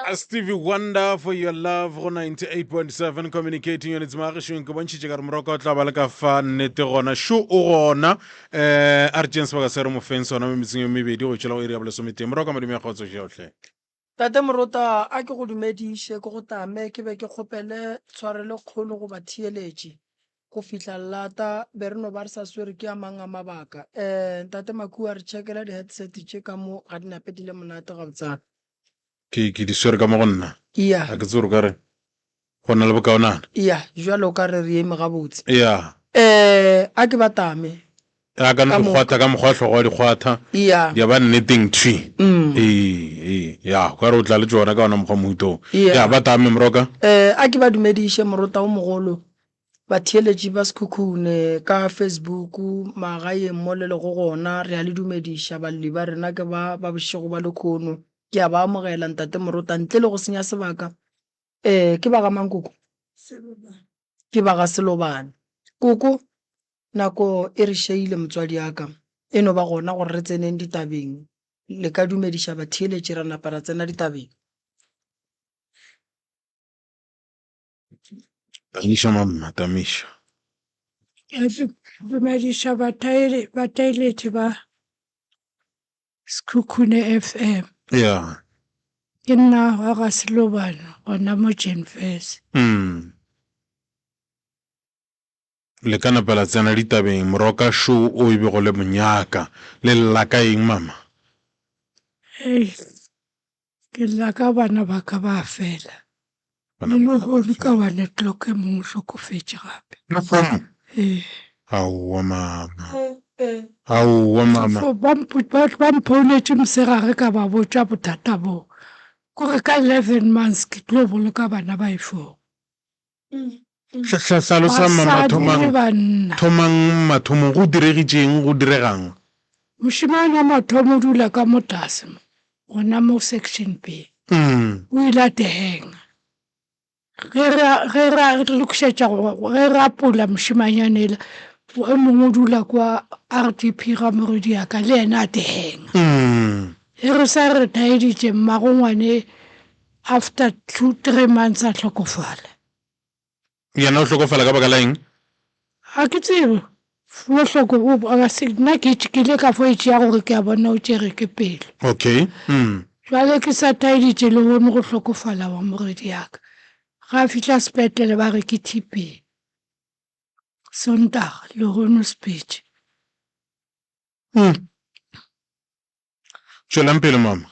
A Stevie Wonder for your love go 98.7 communicating units magešong ke bontšhitše ka re moroko o tla ba le ka fa nnete gona šo o gona um a re tšeng sebaka se re mofeng sona mo metseng e mebedi go tšwela go iri ya bolesomete moroko madume ya kgotso šeotlhe Tate Morota, a ke go dumediše, ke go tame, ke be ke kgopele tshwarelo kgolo go batheeletši. Go fihla llata, be re no ba re sa swere ke a mang a mabaka. Eh, Ntate Makua, re tšhekela di-headset tše ka mo, ga di nape di le monate gabotsana. Ke, ke di swere ka mo go nna. Iya. A ke tsebe gore o ka reng. Go na le bokaonana. Eya, jwalo ka re re eme gabotse. Eya. Ee, a ke ba tame. A ka no di kgwatha ka mokgwa hlogo wa di kgwatha. Eya. Di a ba nneteng thwi. Ee, ee, ya, o ka re o tla le tšona ka ona mokgwa mohuta wo. Eya. Ya, ba tame, moroka. Ee, a ke ba dumediše morota wo mogolo, batheeletši ba Sekhukhune ka Facebook, magaeng mo le lego gona, re a le dumediša, balli ba rena ke ba ba bošego ba lekhono. Ke a ba amogela, Ntate Morota, ntle le go senya sebaka. Ee, ke ba ga mang koko? Selobane. Ke ba ga Selobane. Koko, nako e re šeile motswadi ya ka. E no ba gona gore re tseneng ditabeng. Le ka dumediša batheeletši ra napa ra tsena ditabeng. Tamiša, mamma, Tamiša. Ke dumediša bataeletši ba. Sekhukhune FM. Ya. Ke nna wa ga Selobane gona mo Jenfes. Mm. Le ka napa la tsena ditabeng moroka show o e bego le monyaka. Le llaka eng mama? Hey. Ke lla ka bana ba ka ba fela. Le lehono ka wa le clock e mong o hlokofetše gape. Lehono? Ee. Aowa mama. Aowa mama. Ba ba mpounetše mosegare ka ba botša bothata boo. Kore ka eleven months ke tlo boloka bana ba e four. Hlalosa mathomang. Thomang mathomong go diregitšeng, go diregang. Mošemane wa mathomo o dula ka mo tlase mo, gona mo section B. O ile a tehenga. Ge ra ge ra lokišetša go ge ra pola mošemanyane ela o mongwe o dula kwa RDP ga moredi ya ka le yena a tehenga. Ge re sa re taeditše mmagongwane After two three months a hlokofala. Yena o hlokofala ka baka la eng? A ke tsebe bohloko bo ba se nna ke ke ile ka fo itšea gore ke a bona o tšere ke pelo okay mm jwale ke sa taeditše le hone go hlokofala wa moredi yaka ga fihla sepetlele ba re ke TB sontaga le hone speech mm Tšwelang pele, Mama.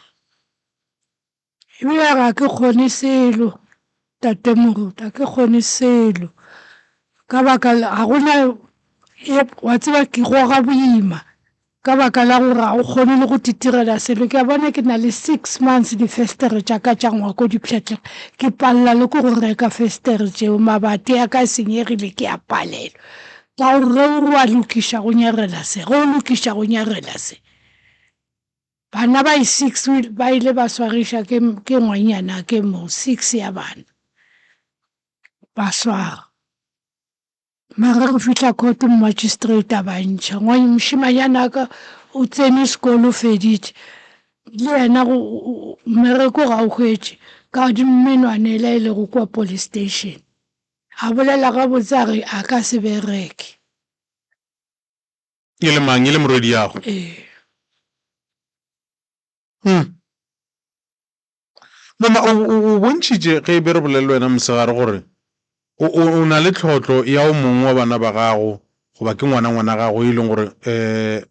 Eupša ga ke kgone selo, Tate Moruti, ga ke kgone selo. Ka baka la, ga go na, wa tseba ke goga boima ka baka la gore ga o kgone le go titirela selo. Ke a bona ke na le six months difestere tša ka tša ngwako di pšhatlega, ke palela le ko go reka festere tšeo, mabati a ka senyegile ke a palelwa. Ka gore ge o re wa lokiša go nyarela se, ge o lokiša go nyarela se. Bana ba e six ba ile ba swagiša ke ke ngwanyana ke mo six ya bana ba swara mara go fihla court magistrate a ba ntšha ngwanye mošimanyana ka o tsene sekolo feditše le yena go mmereko ga o hwetše ka di menwana e la e lego kwa police station a bolela gabotse a re a ka se bereke. E le mang? E le morwediago? Ee. Hmm. Mama, o, o, o bontšhitše ge e be re bolele wena mosegare gore o, o, o na le tlhotlo ya o mongwe wa bana ba gago goba ke ngwana ngwana gago e leng gore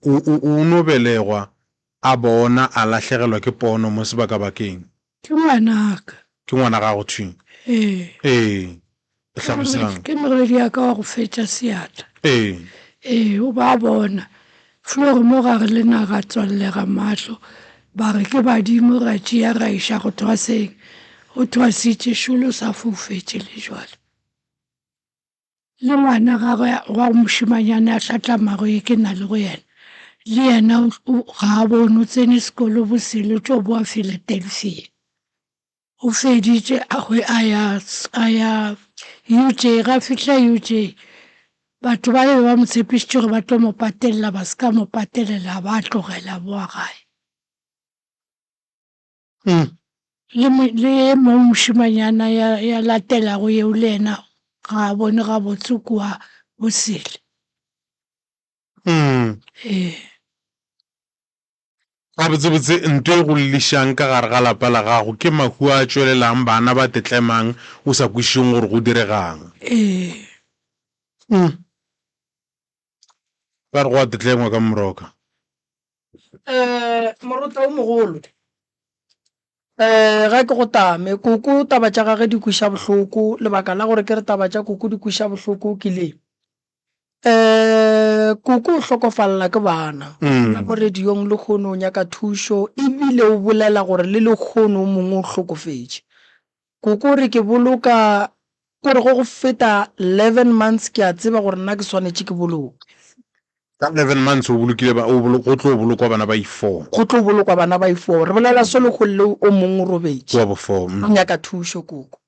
um o, o, o no belegwa A bona a lahlegelwa ke pono mo sebakabakeng. Ke ngwanaka. Ke ngwana gago thwing. Ee. Ee. E hlalosang? Ke morwedi ya ka wa go fetša seatla. Ee. Ee, o ba bona. Flori mo gare le na ra tswallega mahlo, ba re ke badimo, ra tšea ra iša go thwaseng. O thwasitše, šulo sa foufetše le bjale. Le ngwana gagwe wa go mošemanyane a hlatlamago ye ke na le go yena, le yena ga a bone o tsene sekolo bosele tšo boa Philadelphia. O feditše a ya UJ. Ga fihla UJ batho ba be ba mo tshepišitše gore ba tlo mo patelela ba se ka mo patelela a ba a tlogela a boa gae. Le e mong mošemanyana ya latelago yeo le yena ga a bone gabotse kua o sele. Ee. Gabotsebotse nto e go llišang ka gare ga lapa la gago ke mahu a a tšwelelang, bana ba tetlemang o sa kwešišeng gore go diregang. Ee. Ba re go a tetlengwa ka moroka. Um moruta o mogolo um ga ke go tame koko taba tša gage di kweša bohloko lebaka la gore ke re taba tša koko di kweša bohloko ke le um koko o hlokofalela ke bana mm. mo radiong le kgone o nyaka thušo ebile o bolela gore le lekgono o mongwe o hlokofetše Ko kore ke boloka, kore go go feta leven months ke a tseba gore nna ke swanetše ke boloke. Ka leven months o bolokile ba, o bolo, go tlo bolokwa bana ba i-four. Go tlo bolokwa bana ba i-four. Re bolela solokgong leo o mong o robetše. Wa bofo, O mm. nyaka thušo, koko.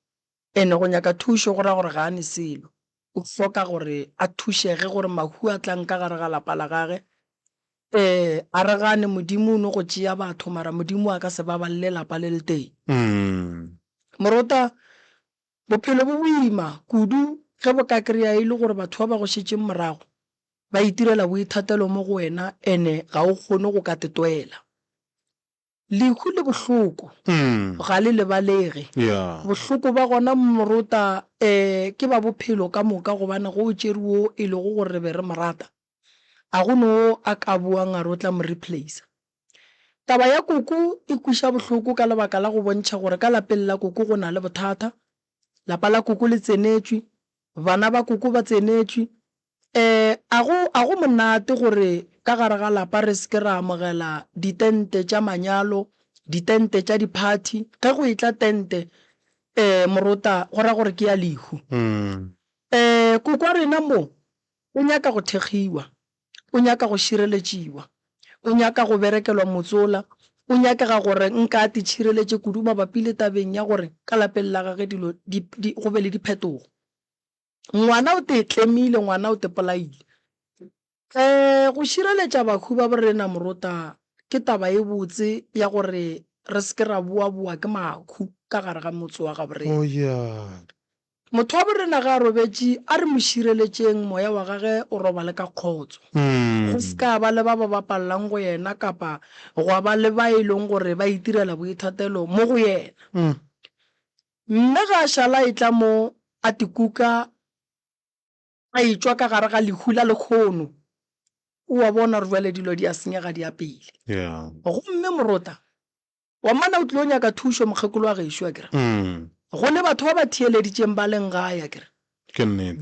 Ene go nyaka thušo go ra gore ga a ne selo. O hloka gore a thušege gore mahu a tlang ka gare ga lapa la gage. Ee, a re gane Modimo o no go tšea batho, mara Modimo a ka se babalele lapa le letee. Morota, bophelo bo boima kudu ge bo ka kry-a e le gore batho ba ba go šetšeng morago ba itirela boithatelo mo go wena and-e ga o kgone go ka tetwela. Lehu le bohloko ga le lebalege. Bohloko ba gona morota um ke ba bophelo ka moka gobane go o tšere wo e lego gore re be re mo rata. A go no a ka boang a re o tla mo replacer. Taba ya koko e kweša bohloko ka lebaka la go bontšha gore ka lapeng la koko go na le bothata. Lapa la koko le tsenetšwe, bana ba koko ba tsenetšwe, A go, a go monate gore ka gare ga lapa re se ke ra amogela ditente tša manyalo, ditente tša diphathi? Ge go etla tente, ee, morota, go ra gore ke ya lehu. Ee, koko wa rena mo o nyaka go thekgiwa, o nyaka go šireletšiwa, o nyaka go berekelwa motsola, o nyakega gore nka a titšhireletše kudu mabapi le tabeng ya gore ka lapeng la gage dilo di, di, go be le diphetogo. Ngwana o te tlemile, ngwana o te polaile. Um go šireletša bahu ba borena morota ke taba e botse ya gore re se ke ra boaboa ke mahu ka gare ga motse wa gaborena. Motho wa borena ge a robetše a re mo šireletšeng moya wa gage o robale ka kgotso, go se ka ba le ba ba bapalelang go yena kapa gwa ba le ba e leng gore ba itirela boithatelo mo go yena. Mme ge a šala a etla mo, a te kuka, a etšwa ka gare ga lehu la lekgono. O a bona gore bjale dilo di a senyega di ya pele. Gomme morota wa mana o tlilo nyaka thušo, mokgekolo wa gešo, akere, go le batho ba ba theeleditšeng ba leng gae, akere,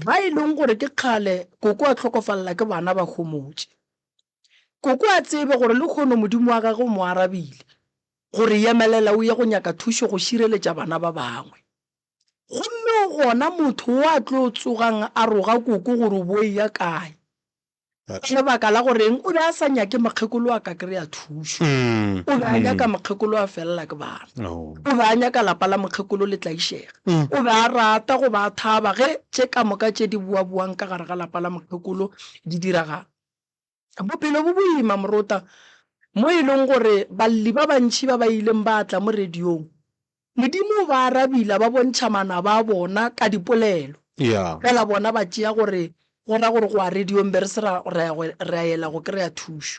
ba e leng gore ke kgale koko a hlokofalela ke bana ba homotše. Koko a tsebe gore lehono Modimo wa gagwe o mo arabile, go re yemelela o ye go nyaka thušo go šireletša bana ba bangwe. Gomme o gona motho wo a tlo tsogang a roga koko gore o bo eya kae. Go na le baka la gore eng o be a sa nyake mokgekolo a ka kry-a thušo. O be a nyaka mokgekolo a felela ke bana. O be a nyaka lapa la mokgekolo le tlaišega. O be a rata go ba a thaba ge tše ka moka tše di boaboang ka gare ga lapa la mokgekolo di diragala. Bophelo bo boima, morota, mo e lego gore balli ba bantši ba ba ileng ba tla mo radiong, Modimo o ba arabile a ba bontšha manaba a bona ka dipolelo. Fela bona ba tšea gore go ra gore go a radiong, be re se ra ya go kry-a thušo.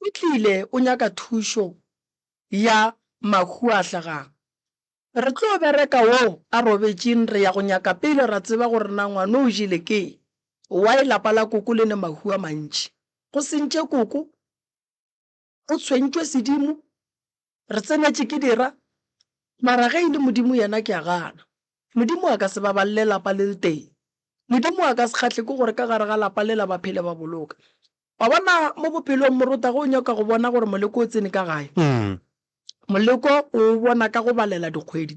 O tlile o nyaka thušo ya mahuahla ga? Re tlo bereka wo a robetšeng re ya go nyaka pele ra tseba gore na ngwano o jele ke y lapa la koko le ne mahu a mantši go sentše koko o tshwentšwe sedimo Re tsenetše ke dira, mara ge e le Modimo yena ke a gana. Modimo a ka se babalele lapa le letee. Modimo a ka se kgahle ke gore ka gare ga lapa lela ba phele ba boloka. Wa bona, mo bophelong morota ge o nyaka go bona gore moleko o tsene ka gae, moleko o o bona ka go balela dikgwedi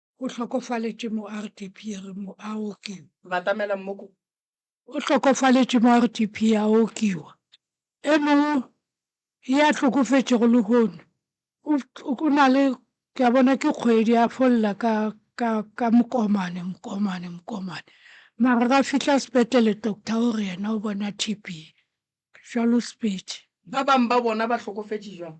O hlokofaletše mo RDP ya re mo a okiwa. Batamela Mmoku. O hlokofaletše mo RDP ya okiwa. E mongwe ya hlokofetšego lehono o, o na le, ke a bona ke kgwedi a fo lla ka, ka, ka mokomane, mokomane, mokomane. Mara ga fihla sepetlele doctor o re yena o bona TB. Jwalo speech. Ba bang ba bona ba hlokofetše jwang?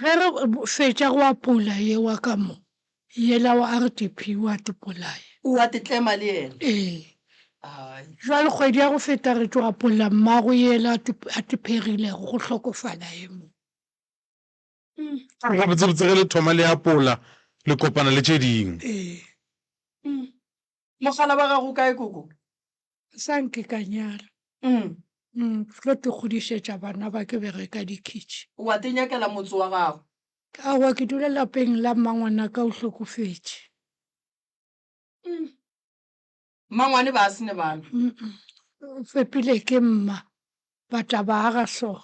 Ge re fetša go apola ye wa ka mo, yela wa RDP o a tepolaya. O a tetlema le yena? Ee. Ai. Bjale kgwedi ya go feta re tšwa apolla mmago yela a tepegilego, go hlokofala ye mo. Ke re gabotsebotse ge le thoma le apola, le kopana le tše dingwe. Ee. Mogala wa gago o kae koko? Sa nke ka nyala. Umm. Umm, ke tlo te godišetša bana ba ke bereka dikhitši. Wa te nyakela motse wa gago? Aowa, ke dula lapeng la mmangwana ka o hlokofetše. Umm. Mmangwane ba se ne bana? Umm, o fepile ke mma, ba tla ba aga so.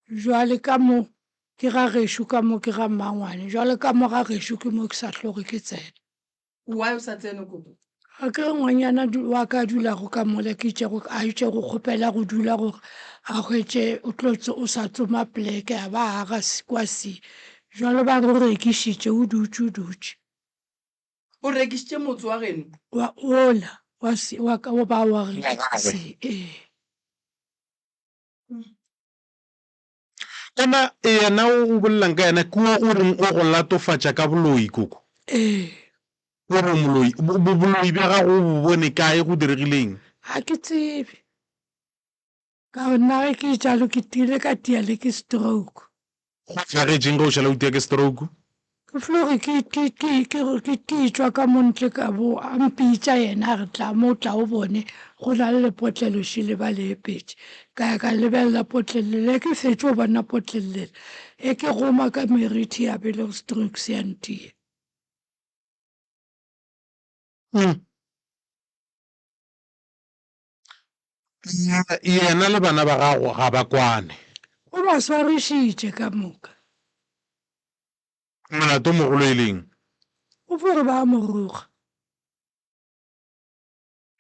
Bjale ka mo ke ga gešo, ka mo ke ga mmangwane, bjale ka mo ga gešo ke mo ke sa tloge ke tsena. Why o sa tsene koko? Ga ke ngwanyana wa ka a dulago ka mola, ke itšego a itše go kgopela go dula gore a hwetše o tlo o sa tsoma pleke a ba a ga kwa se. Bjale ba re o rekišitše, o dutše o dutše. O rekišitše motse wa geno? Wa ola wa se wa ka o ba wa re se ee. kana yena o go bolelang ka yena ke o o reng o go latofatša ka boloi koko ee o re moloi bo- bo- boloi bja gago o bo bone kae go diregileng ga ke tsebe ka nna ge ke jalo ke tile ka tia le ke stroke Go hlagetšeng ge o šala o tia ke stroke? Ke fluge ke ke ke ke ke ke tšwa ka mo ntle ka bo a mpitša yena a re tla mo tla o bone go na le lepotlelo šele ba le epetše ka ya ka lebelela potlelele le ke fetše o bona potlelele e ke goma ka merithi ya bele go strokes ya ntiye yena le bana ba gago ga ba kwane o ba swarišitše ka moka molato mogolo e leng o fore ba mo roga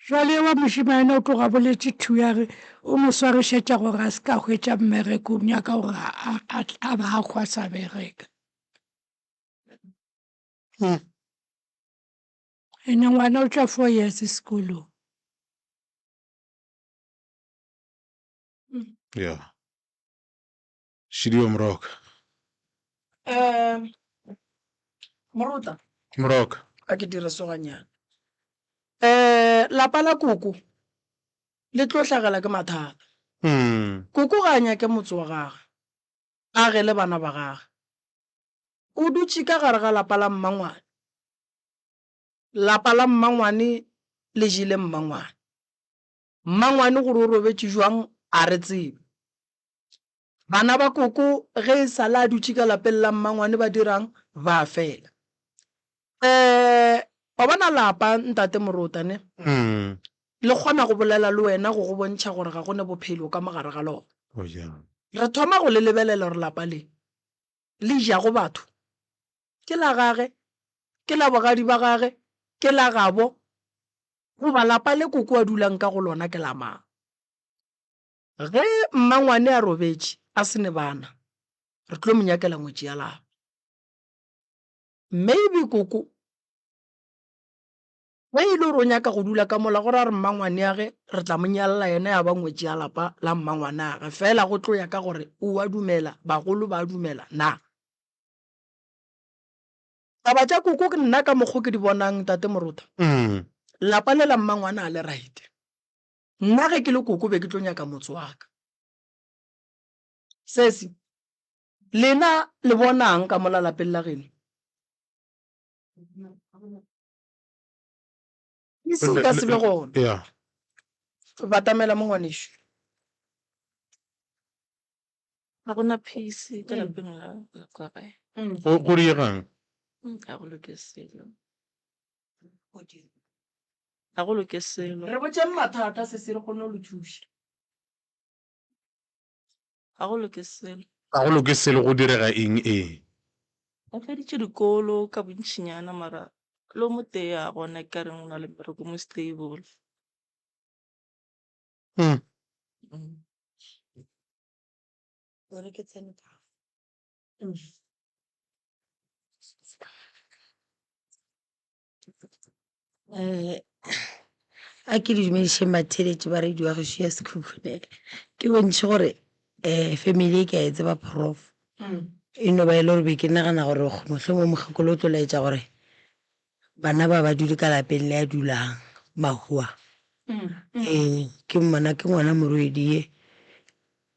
jwale wa mošimane o tloga boletše thu ya re o mo swarišetša gore a se ka hwetša mmereko o nyaka gore a ba a kgwa sa bereka hmm. Ene ngwana o tla four years sekolong. Yeah. Šidi wa moroka. Um, moruta. Moroka. A ke dire soganyana. Eh, lapa la koko le tlo hlagela ke mathata. Mm. Koko ga a nyake motse wa gage. A ge le bana ba gage. O dutše ka gare ga lapa la mmangwane. Lapa la mmangwane le jele mmangwane. Mmangwane gore o robetše jwang a re tsebe. Bana ba koko ge e sale a dutše ka lapeng la mmangwane ba dirang? Ba fela. Ee, wa bona lapa ntate Morota ne? Le kgona go bolela le wena go go bontšha gore ga go ne bophelo ka mo gare ga lona. Re thoma go le lebelela gore lapa le le jago batho ke la gage, ke la bogadi ba gage, ke la gabo, goba lapa le koko a dulang ka go lona ke la mang? Ge mmangwane a robetše a se ne bana, re tlo mo nyakela ngwetši ya lapa. Maybe koko Ge e le gore o nyaka go dula ka mola, gore a re mmangwaneage re tla mo nyalela yena ya ba ngwetši ya lapa la mmangwanage, feela go tlo ya ka gore o a dumela, bagolo ba a dumela na. Taba tša koko ke nna ka mokgo ke di bonang Tate Morotha, lapa le la mmangwana a le right. Nna ge ke le koko be ke tlo nyaka motse wa ka. Sesi, lena le bonang ka mola lapeng la geno? ke se ka se be gona ya batamela mo ngwanešu ga gona peace ka lapeng la la kwa gae go go diegang Mm, ga go loke selo ga go loke selo re botseng mathata se se re kgone go le thuša Ga go loke selo. Ga go loke selo, go direga eng? Ee. O feditše dikolo ka bontšinyana mara le o motee a bona e ka reng o na le mmereko mo stable. A ke le dumedišeng batheeletši ba radio ya gešo ya Sekhukhune, ke bontšhe gore family e ke a e tseba prof, e no ba e le gore be ke nagana gore mohlomongwe mokgekolo o tlo laetša gore bana ba ba dule ka lapeng le a dulang mahua. Ee, ke mmona ke ngwana Morwedi ye,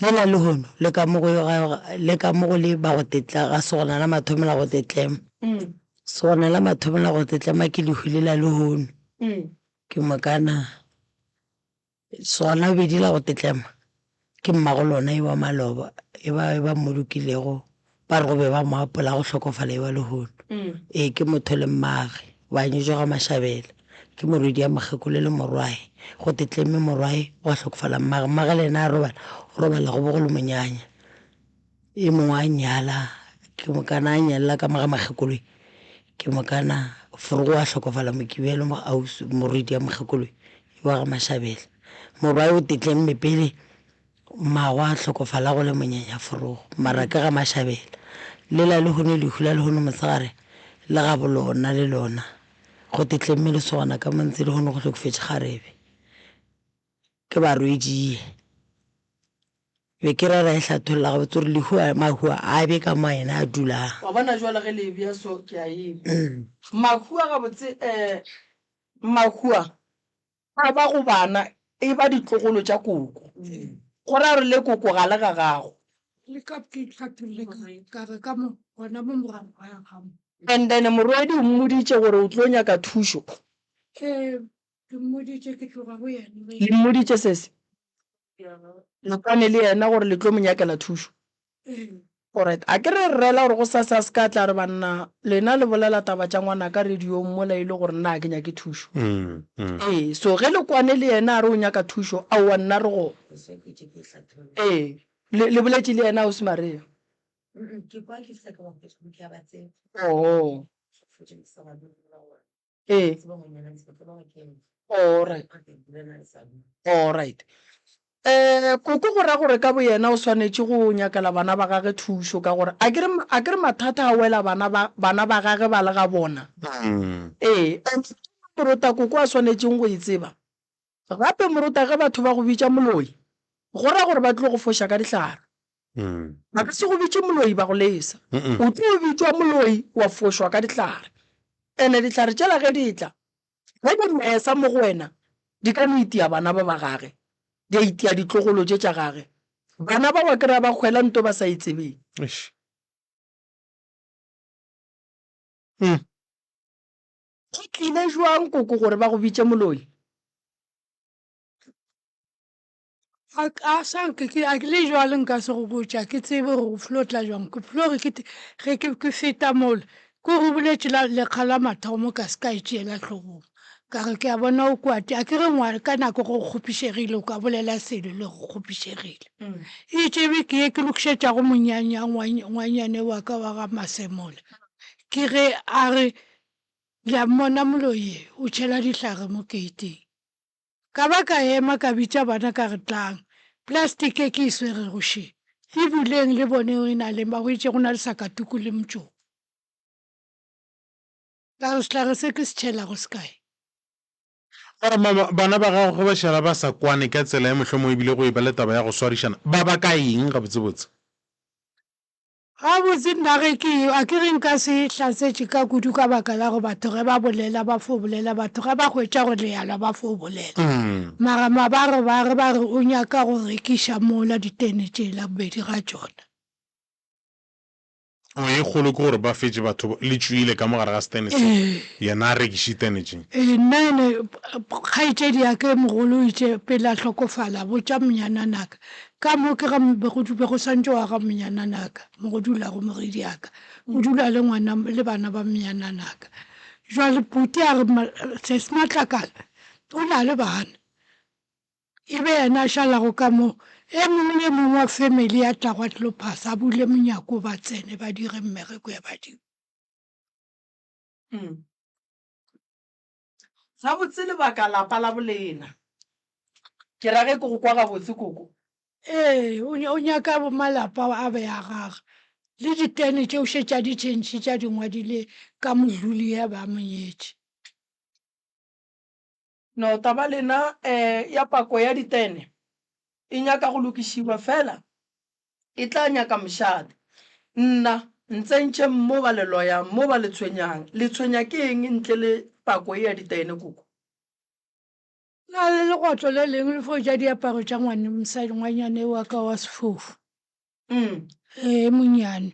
Le na lehono, le ka mo go yo ga yo, le ka mo go le ba go tetla, ga se gona la mathomo la go tetlema. Se gona la mathomo la go tetlema ke lehu le la lehono. Ke mo ka na. Se gona la bobedi la go tetlema ke mmago lona yo wa maloba, yo ba, yo ba mmolokilego Ba re go be ba mo apola go hlokofala ewa lehono. Ee, ke motho le mmage. Ba anyetšwa ga Mashabela. Ke morwedi ya mokgekolo le morwae. Go te tlemme morwae, gwa hlokofala mmage. Mmage le yena a robala, o robala go bo go le monyanya. E mongwe a nyala, ke mokana a nyalela ka mo ga Makgekoloi. Ke mokana Forogo wa hlokofala Mokibelo mo ausi, morwedi ya mokgekoloe ewa ga Mashabela. Morwae o te tlemme pele Mmagwe a hlokofala go le monyenyaforogo, mara ke ga Mashabela. Lela lehono lehu la lehono mosegare le gabo lona le lona gote tlemme lesogana ka mo ntse lehono go hlokofetše kgarebe. Ke barwediye. Be ke ra ra e hlatholla gabotse gore lehu a mahu a a be ka mo a ena a dulang. Wa bona jwale ge le ebya so ke a eba. Mahu a gabotse eh mahu a A ba go bana e ba ditlogolo tša koko, go ra gore le koko ga le ga gago. Le ka ke hlapirile ka re, ka re ka mo, gona mo morago ga ya gago. And then morwedi o mmoditše gore o tlo nyaka thušo. Ee, ke mmoditše ke tloga go yena. Le mmoditše se se? Mokane le yena gore le tlo mo nyakela thušo. Alright, a ke re rrela gore go sase a se ka tla re banna lena le bolela taba tša ngwana ka radiong mola e le gore nna a ke nyake thušo. Ee, so ge Lekwane le yena a re o nyaka thušo, aowa nna re go. Ee, le, le boletše le yena Ausi Maria? Oho. Ee. Alright. Alright. Um koko go ra gore ka boyena o swanetše go nyakela bana ba gage thušo ka gore a kere a kere mathata a wela bana ba bana ba gage ba le ga bona Mm. ee and rota koko a swanetšeng go e tseba Gape moruta ge batho ba go bitša moloi, go ra gore ba tlo go foša ka dihlare. Ba ka se go bitše moloi ba go lesa. O tlo bitšwa moloi wa fošwa ka dihlare. Ene dihlare tšela ge di tla, ge di mesa mo go wena, di ka no itia bana ba ba gage, di a itia ditlogolo tše tša gage. Bana ba wa kry-a ba kgwela nto ba sa e tsebeng. Go tlile jwang koko gore ba go bitše moloi? a a sa nke ke a le jwale nka se go botša ke tsebe gore o flo tla jwang ke flo re ke ge ke ke feta mole ke gore o boletše la lekga la mathomo ka se ka e tšeela tlhogong ka re ke a bona o kwate a ke re ngwana ka nako go kgopišegile o ka bolela selo le go kgopišegile e tsebe ke ye ke lokišetšago monyanya ngwanyane wa ka wa ga masemole ke ge a re Le a mmona moloi ye? O tšhela dihlare mo keiteng. Ka ba ka ema ka bitša bana ka re, Tlang, plastic e ke e swerego še, e buleng le boneng e na leng. Ba hweditše go na le sakatuku le motšoko. Ka re, Sehlare se ke se tšhelago se kae? Ka re, Mama, bana ba gago ge ba šala ba sa kwane ka tsela ye mohlomongwe e bile go e ba le taba ya go swarišana, ba baka eng gabotsebotse? Gabotse nna ge ke eyo, a ke re nka se e hlatsetše ka kudu ka baka la gore batho ge ba bolela ba fo bolela, batho ge ba hwetša go lealwa ba fo bolela. Mara mabarobaro ba re o nyaka go rekiša mola ditene tšela, bobedi ga tšona. Oh, ye kgolo ke gore ba fetše batho le tšwile ka mo gare ga setene se, yena a rekiše ditene tše. Ee, nna ene kgaetšedi ya ka e mogolo o itše pele a hlokofala, botša monyananaka, Ka mo ke ga be go dube go santše wa ga mnyananaka mo go dulago mogediaka, o dula le ngwana le bana ba mnyananaka. Jwale Phuti a re Sesi Matlakala o na le bana, e be yena a šalago ka mo. E mong le e mong wa family ya tla go a tlo phasa, a bule monyako ba tsene ba dire mmereko ya badimo. Gabotse lebaka lapa la bolena. Ke ra ge ke go kwa gabotse koko? Ee, o, o nyaka malapa a be a gaga. Le ditene tše o šetše a di tšhentšhitše a di ngwadile ka modluli ya ba a mo nyetše. No, taba lena, eh, ya pako ya ditene e nyaka go lokišiwa, fela E tla nyaka mošate. Nna, Ntsentšhe mo ba le loyang, mo ba le tshwenyang. Le tshwenya ke eng ntle le pako ye ya ditaene koko? Na le legotlo le leng le fo ja diaparo tša ngwane mosadi ngwanyane wa ka wa sefofu? Ee, monnyane.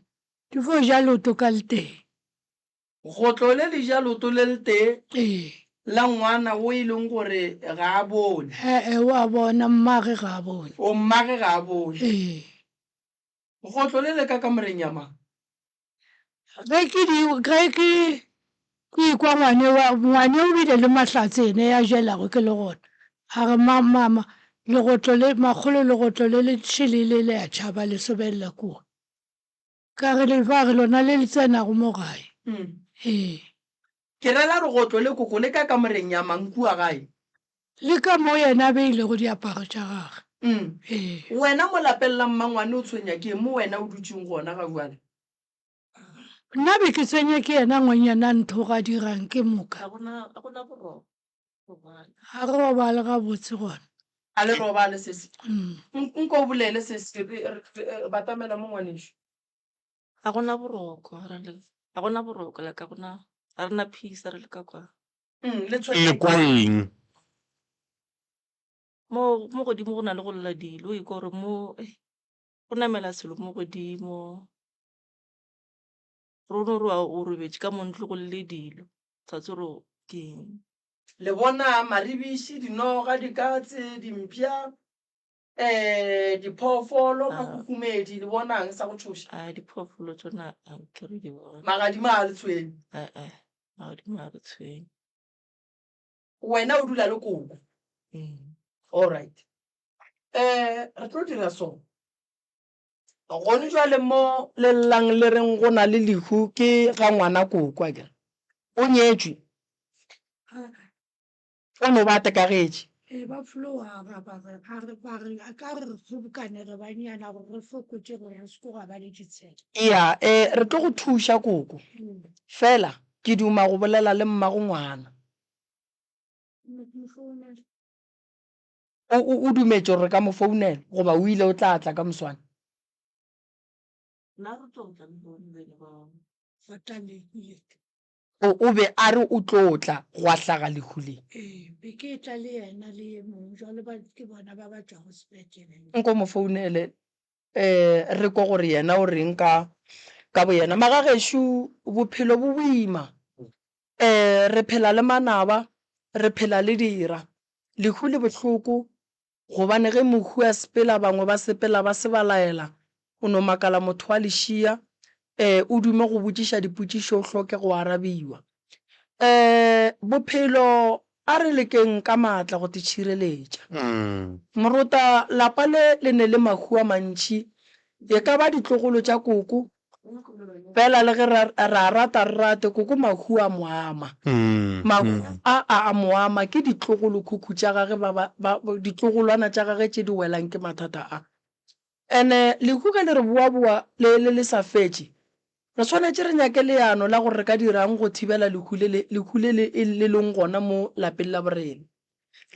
Di fo ja loto ka le teng. Go tlo le le ja loto le letee Ee. la ngwana wo e leng gore ga a bone. Ee, o a bona, mmage ga a bone. O mmage ga a bone. Ee. Go tlo le le ka kamoreng ya mang? Ge ke di, ge ke, ke ikwa ngwane wa, ngwane o bile le mahlatse ene ya jelago ke le gona. A re, Ma, Mama, legotlo le, makgolo legotlo le le šele le le a tšhaba le sobelela kua. Ka re, Lefa re lona le le tsenago mo gae. Ee. Ke ra la regotlo le koko le ka kamoreng ya mang kua gae? Le ka mo yena a beilego diaparo tša gage. Ee. Wena mo lapellang mmangwane o tshwenya ke eng mo wena o dutšeng gona ga bjale? Nna be ke tsenya ke yena ngwenyana ntho ga dirang ke moka. Ga go na boroko. A re robale gabotse gona. A le robale sesi. Nko o bolele sesi, re batamela mo ngwanešu. Ga go na boroko, ra le. Ga go na boroko, like ga go na, ga re na peace, re le ka kwa. Le tshwere. Le kwa eng? Mo, mo godimo go na le go lla dilo, o ikwa gore mo, go namela selo mo godimo. Ruri ro a o robetše ka mo ntlo go lle dilo, sa tswe ro ke eng. Le bona, maribiši, dinoga, dikatse, dimpša, ee, diphoofolo, mahuhumedi, le bonang, sa go tšhoša. A, diphoofolo tšona a nke re di bone. Magadima a le tshwene. A-a, magadima a re tshwene. Wena o dula le koko. All right. Ee, re tlo dira so. Gona jwale mo le llang le reng go na le lehu ke ga ngwana koko a kere o nyetšwe o no ba tekagetše e ba flowa ba ba re a re ba re a ka re kgobokane re banyana gore re fokotše gore re seko ga ba le ditshela ya e re tlo go thuša koko fela ke duma go bolela le mmago ngwana O, o, o dumetše gore re ka mo founela, goba o ile o tla tla ka moswane? O, o be a re o tlo tla, gwa hlaga lehu le. Nko mo founele, ee, re kwe gore yena o re'ng ka, ka boyena. Magagešo, bophelo bo boima. Ee, re phela le manaba, re phela le dira. Lehu le bohloko, gobane ge mohu a sepela, bangwe ba sepela ba se ba laela, o no makala motho wa lešia, ee, o dume go botšiša dipotšišo o hloke go arabiwa. Ee, bophelo, a re lekeng ka matla go tšhireletša. Moruta, lapa le le ne le mahu a mantši, e ka ba ditlogolo tša koko, Fela le ge re a rata re rate, koko mahu a mo ama. Mahu a a a mo ama, ke ditlogolokhukhu tša gage, ba ba, ba, ditlogolwana tša gage tše di welang ke mathata a. And-e lehu ge le re boaboa le, le, le sa fetše, re swanetše re nyake leano la gore re ka dira'ng go thibela lehu le le, lehu le le, le leng gona mo lapeng la borena.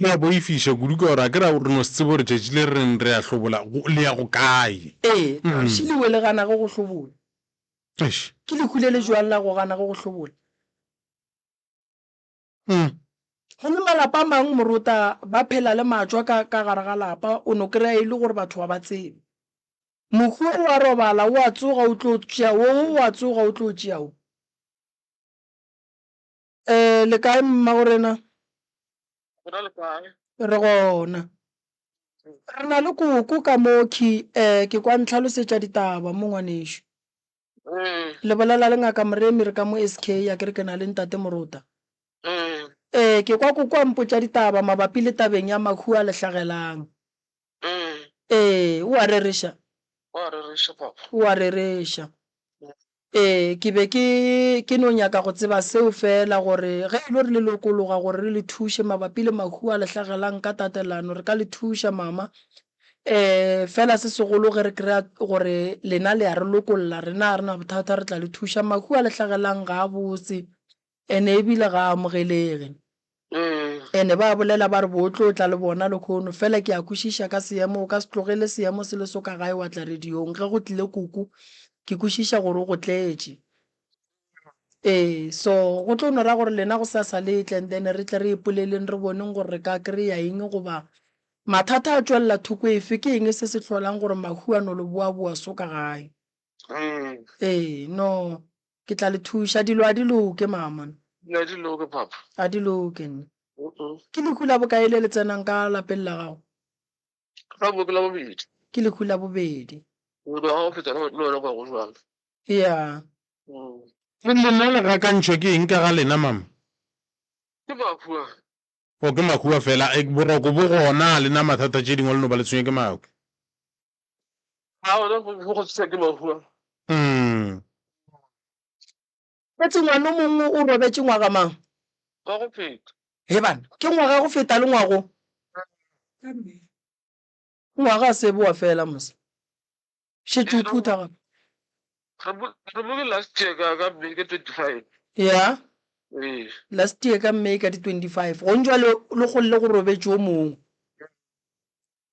Le a boifiša kudu ka gore a ke ra re no se tsebe gore tšatši le re reng re a hlobola go, le ya go kae. Ee, kgauswi lewe le ganago go hlobola. Eish. Ke lehu le le joang la go ganago go hlobola? Mm. Go le malapa a mang morota ba phela le matšwa ka, ka gare ga lapa, o no kry-a e le gore batho ga ba tsebe. Mohu o a robala, o a tsoga o tlo tšea wo, wo o a tsoga o tlo tšea wo. Eh, le kae mmagorena? Re gona. Re na le koko ka moki, eh, ke kwa ntlhalosetša ditaba mo ngwanešu. Mm. Le bolela le ngaka Moremi re ka mo SK ya ke re ke na le ntate Morota. Mm. Eh, ke kwa koko a mpotša ditaba mabapi le tabeng ya mahu a lehlagelang. Ee, o a rereša. O a rereša, Papa. O a rereša. Ee, ke be ke, ke no nyaka go tseba seo feela, gore ge e lo re le lokologa gore re le thuše mabapi le mahu a le hlagelang ka tatelano, re ka le thuša, Mama. Ee, feela se segolo ge re kry-a gore lena le a re lokolla, rena ga re na bothata, re tla le thuša. Mahu a le hlagelang ga a botse. Ene ebile ga a amogelege. Ene ba bolela ba re bo tlo tla le bona lekhono. Fela ke a kwešiša ka seemo, o ka se tlogele seemo se le so ka gae wa tla radiong. Ge go tlile kuku, ke kwešiša gore o go tletše. Ee, so go tlo no ra gore lena gosasa le tle and then re tle re ipoleleng re boneng gore re ka kry-a eng goba mathata a tšwelela thoko efe, ke eng se se hlolang gore mahuanolo bo a boa so ka gae. Ee, no. Ke tla le thuša. Dilo a di loke, Maamana. Dilo a di loke, Papa. A di loke, nna. Ke lehu la bokae le le tsenang ka lapeng la gago? Gabo ke la bobedi. Ke lehu la bobedi. O tloga o feta le wena kwa go jwang? Ea. Lena le gakantšhwa ke eng ka ga lena, Mama? Ke Makua. Oh ke makua fela, eh, boroko bo gona le na mathata tše dingwe le no ba le tshwenye ke makua. A gona go go tshisa ke makua. Mm. Etse ngwano mongwe o robetše ngwaga mang? Wa go feta. He bana, ke ngwaga go feta le ngwago. Ngwaga se boa fela mose. Šetše o phutha gape. Re bule last year ka ka May ka 25. Ya. Ee. Last year ka May ka di 25. Go ntšwa le le golle go robetše o mongwe.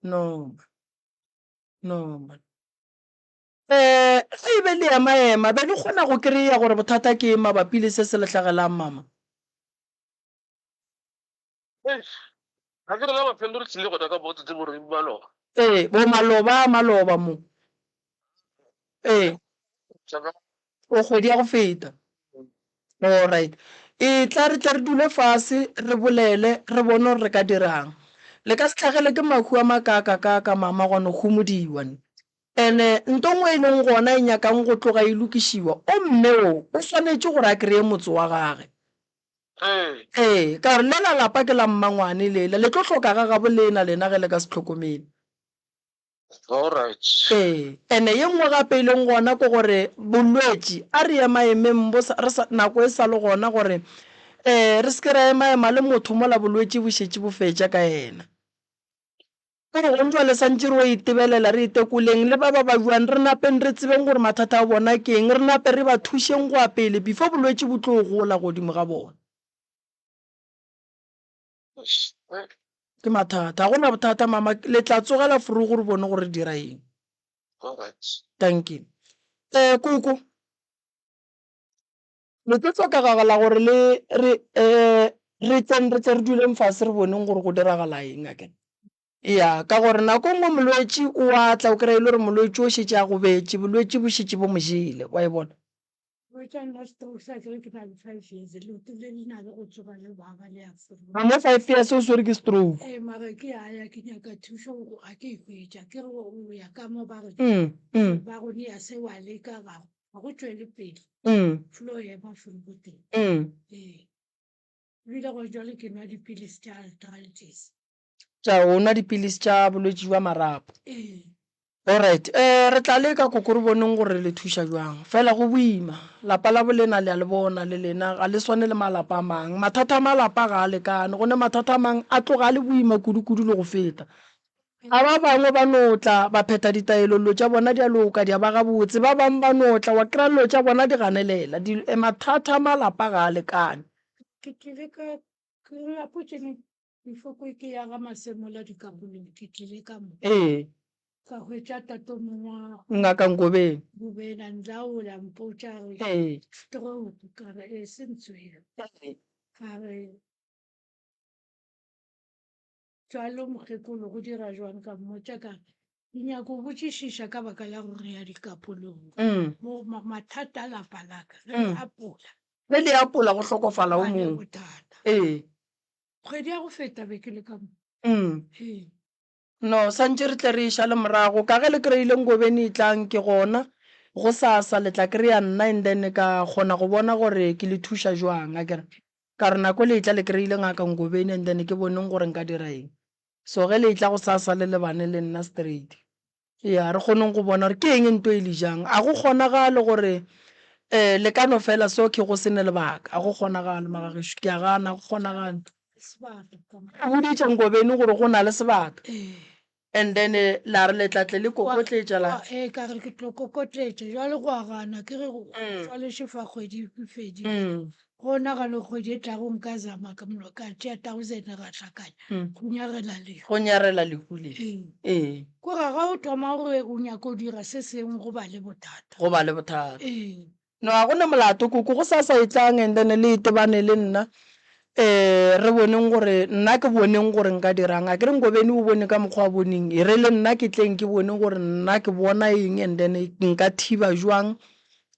No. No. Eh, ge e be le ema ema be le kgona go kry-a gore bothata ke mabapi le se se lehlagelang mama. Ee, bo maloba a maloba mo. Ee, o kgwedi ya go feta. Alright. Etla re tle re dule fase, re bolele, re bone gore re ka dira'ng. Le ka se tlhagelwe ke mahu a makaakakaaka, mama, gwa no humodiwa. And-e nto nngwe e leng gona e nyakang go tloga e lokišiwa, o mme o, o swanetše gore a kreye motse wa gage. Ee, ka re, Lela lapa ke la mmangwane lela, le tlo hloka ga gabo leena lena ge le ka se hlokomele. Ee, ene ye nngwe gape e leng gona ke gore bolwetši, a re emaemeng bo sa, re sa, nako e sa le gona gore um re se ke ra emaema le motho mola bolwetši bo šetše bo fetša ka yena. Ka gore gona bjale santše re yo itebelela, re itekoleng le ba ba ba bjwang, re napeng re tsebeng gore mathata a bona ke eng, re nape re ba thušeng go ya pele before bolwetši bo tlo gola godimo ga bona. Ke mathata. Ga go na bothata, mama. Le tla tsogela forogo re bone gore re dira eng. Dankie. Koko. Le tlo tloka gagwe la gore le re re tseng re tle re duleng fase re boneng gore go diragala eng a kere ya ka gore nako nngwe molwetši o a tla o kry-a e le gore molwetši o šetše a gobetše bolwetši bo šetše bo mo jele wa e bona a mo five years o swere ke stroke ga go tšwele pele mm. flow ya mafelo ko teng mm. ee ebile go jwale ke nwa dipilisi tša arthritis tša o nwa dipilisi tša bolwetši jwa marapo ee alright um re tla leka koko re boneng gore le thuša jwang fela go boima lapa la bolena le a le bona le lena ga le swane le malapa a mang mathata a malapa ga a lekane gone mathata a mang a tloga a le boima kudu-kudu le go feta A Ba bangwe ba no tla, ba phetha ditaelo, dilo tša bona di a loka, di a ba gabotse. Ba bangwe ba no tla, wa kry-a dilo tša bona di ganelela, di, e mathata a malapa ga a lekane. Ke tlile ka, ke lapo ke ne ke fokwe ke ya ga Masemola Dikabolong, ke tlile ka mo. Ee. Ka hwetša tatomong wa. Ngaka Ngobeni. Ngobeni a nlaola, a mpotša a re. Ee. Stroke, ka re ee, se ntswere. Ee. A re. Bjalo, mokgekolo, go dira bjang? Ka mmotša ka re, Ke nyaka go botšišiša ka baka la go rea dikapolong mo mathata a lapa la ka. Re le apola. Re le apola go hlokofala o mongwe. Bothata. Ee. Kgwedi ya go feta be ke le ka mo. Ee. No, santše re tle re eša le morago. Ka ge le kreile nkobeni e tlang, ke gona. Gosasa le tla krea nna and then ka kgona go bona gore ke le thuša bjang, a ke re. Ka re nako le etla le kry-ile ngaka Ngobeni and then ke boneng gore nka dira eng. So ge le etla go sa sa le lebane le nna straight. Yeah, re kgoneng go bona gore ke eng nto e le jang. A go kgonagale gore um le ka no fela so ke go sene lebaka. A go kgonagale mara gešo. Ke a gana a go kgonagale. O boditše Ngobeni gore go na le sebaka. And then la re le tla tle le kokotletša la. Gwa ee ka re ke tlo kokotletša jwale gwa gana ke re go Mm. swaleshe fa kgwedi e fedile Mm. go nagane kgwedi e tlago nka zama ka mono ka tšea thousand ra hlakanya Mm. go nyarela leyo Go nyarela lehu le. ee Ee. ko ga ga o thoma gore o nyaka o dira se sengwe go ba le bothata Go ba le bothata. ee No ga go na molato koko go sa sa etlang and then le itebane le nna um re boneng gore nna ke boneng gore nka dirang a ke re Ngobeni o bone ka mokgwa a boneng e re le nna ke tleng ke bone gore nna ke bona eng and then nka thiba jwang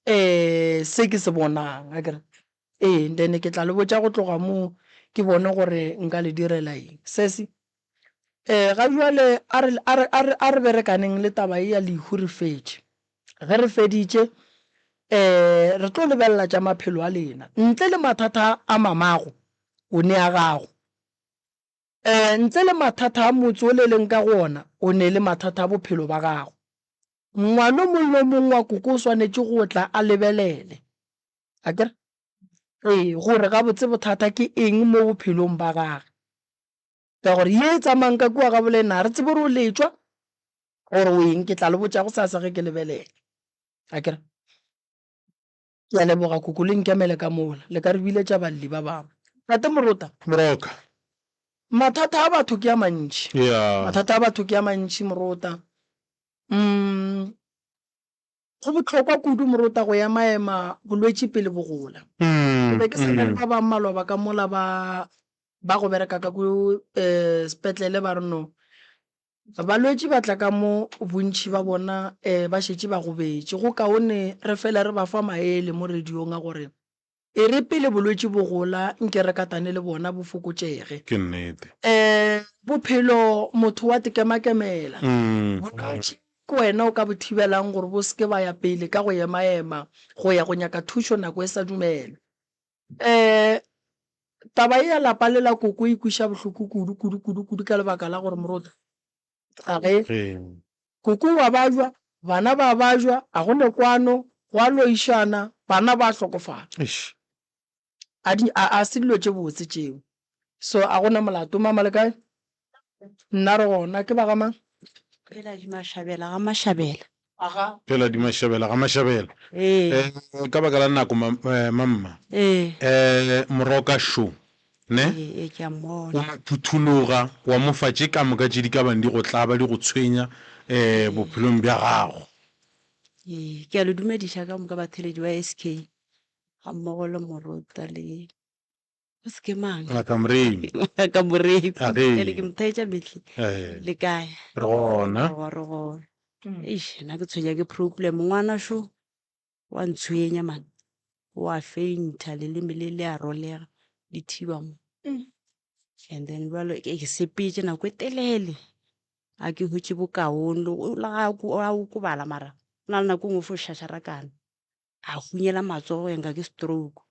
um se ke se bonang a ke re ee then ke tla le botša go tloga moo ke bone gore nka le direla eng sesi Ee, ga bjale a re, a re, a re, a re berekaneng le taba ye ya lehu re fetše. Ge re feditše, um re tlo lebelela tša maphelo a lena. Ntle le mathata a mamago, o ne a gago. Um ntle le mathata a motse o le leng ka go ona, o ne le mathata a bophelo ba gago. Ngwana o mong le o mong wa koko o swanetše go tla a lebelele, a ke re, ee, gore gabotse bothata ke eng mo bophelong ba gage. ka gore ye e tsamayang ka kua ga bolena ga re tsebe gore o letšwa gore o eng ke tla le botša go sasa ge ke lebelela a kere ke a leboga koko le nkemele ka mola le ka re biletša balli ba bangwe tate morota moroka mathata a batho ke a mantši yeah. mathata a batho ke a mantši morota mm Go bohlokwa kudu morota go ema ema bolwetši pele bo gola. Ke be ke sa na le ba ba mmalwa ba ka mola ba ba go bereka ka ku sepetlele ba re no balwetši ba tla ka mo bontši ba bona ba šetše ba gobetše, go kaone re fela re ba fa maele mo radiong a gore E re pele bolwetši bo gola, nke re katane le bona bo fokotšege. Ke nnete. Ee, bophelo motho wa tikemakemela. Bolwetši ke wena o ka bo thibelang gore bo se ke ba ya pele ka go emaema go ya go nyaka thušo nako e sa dumelwe. Ee, taba ye ya lapa le la koko e kweša bohloko kudu, kudu, kudu, kudu ka lebaka la gore moruti ga ge koko wa bajwa bana ba bajwa a go ne kwano go a loišana bana ba hlokofala a di a a se dilo tše botse tšeo so a gona molato mama le kae nna re gona ke ba ga mang phela di mashabela ga mashabela Phela di mašabela ga mašabela. Ee. Ka baka la nako mamma. Ee. Moroka šo ne. Ee ke a mmona. O phuthologa wa mo fa tše ka moka tše di ka bang di go tlaba di go tshwenya bophelong bja gago. Ee. Ke a le dumediša ka moka batheledi ba SK gammogo le Morota le. go se ke mang ngaka moremi ngaka moremi ere ke mothaetša metlhe le kae re gona re gona eish nna ke tshwenya ke problem ngwana sho wa ntshwenya man wa feinta leleme le le a rolega le thiba mo and then jalo ke sepetse nako e telele a ke hotse bokaone o lega a okobala mara o na le nako e nngwe fo shasharakana a hunyela matsogo yanga ke stroke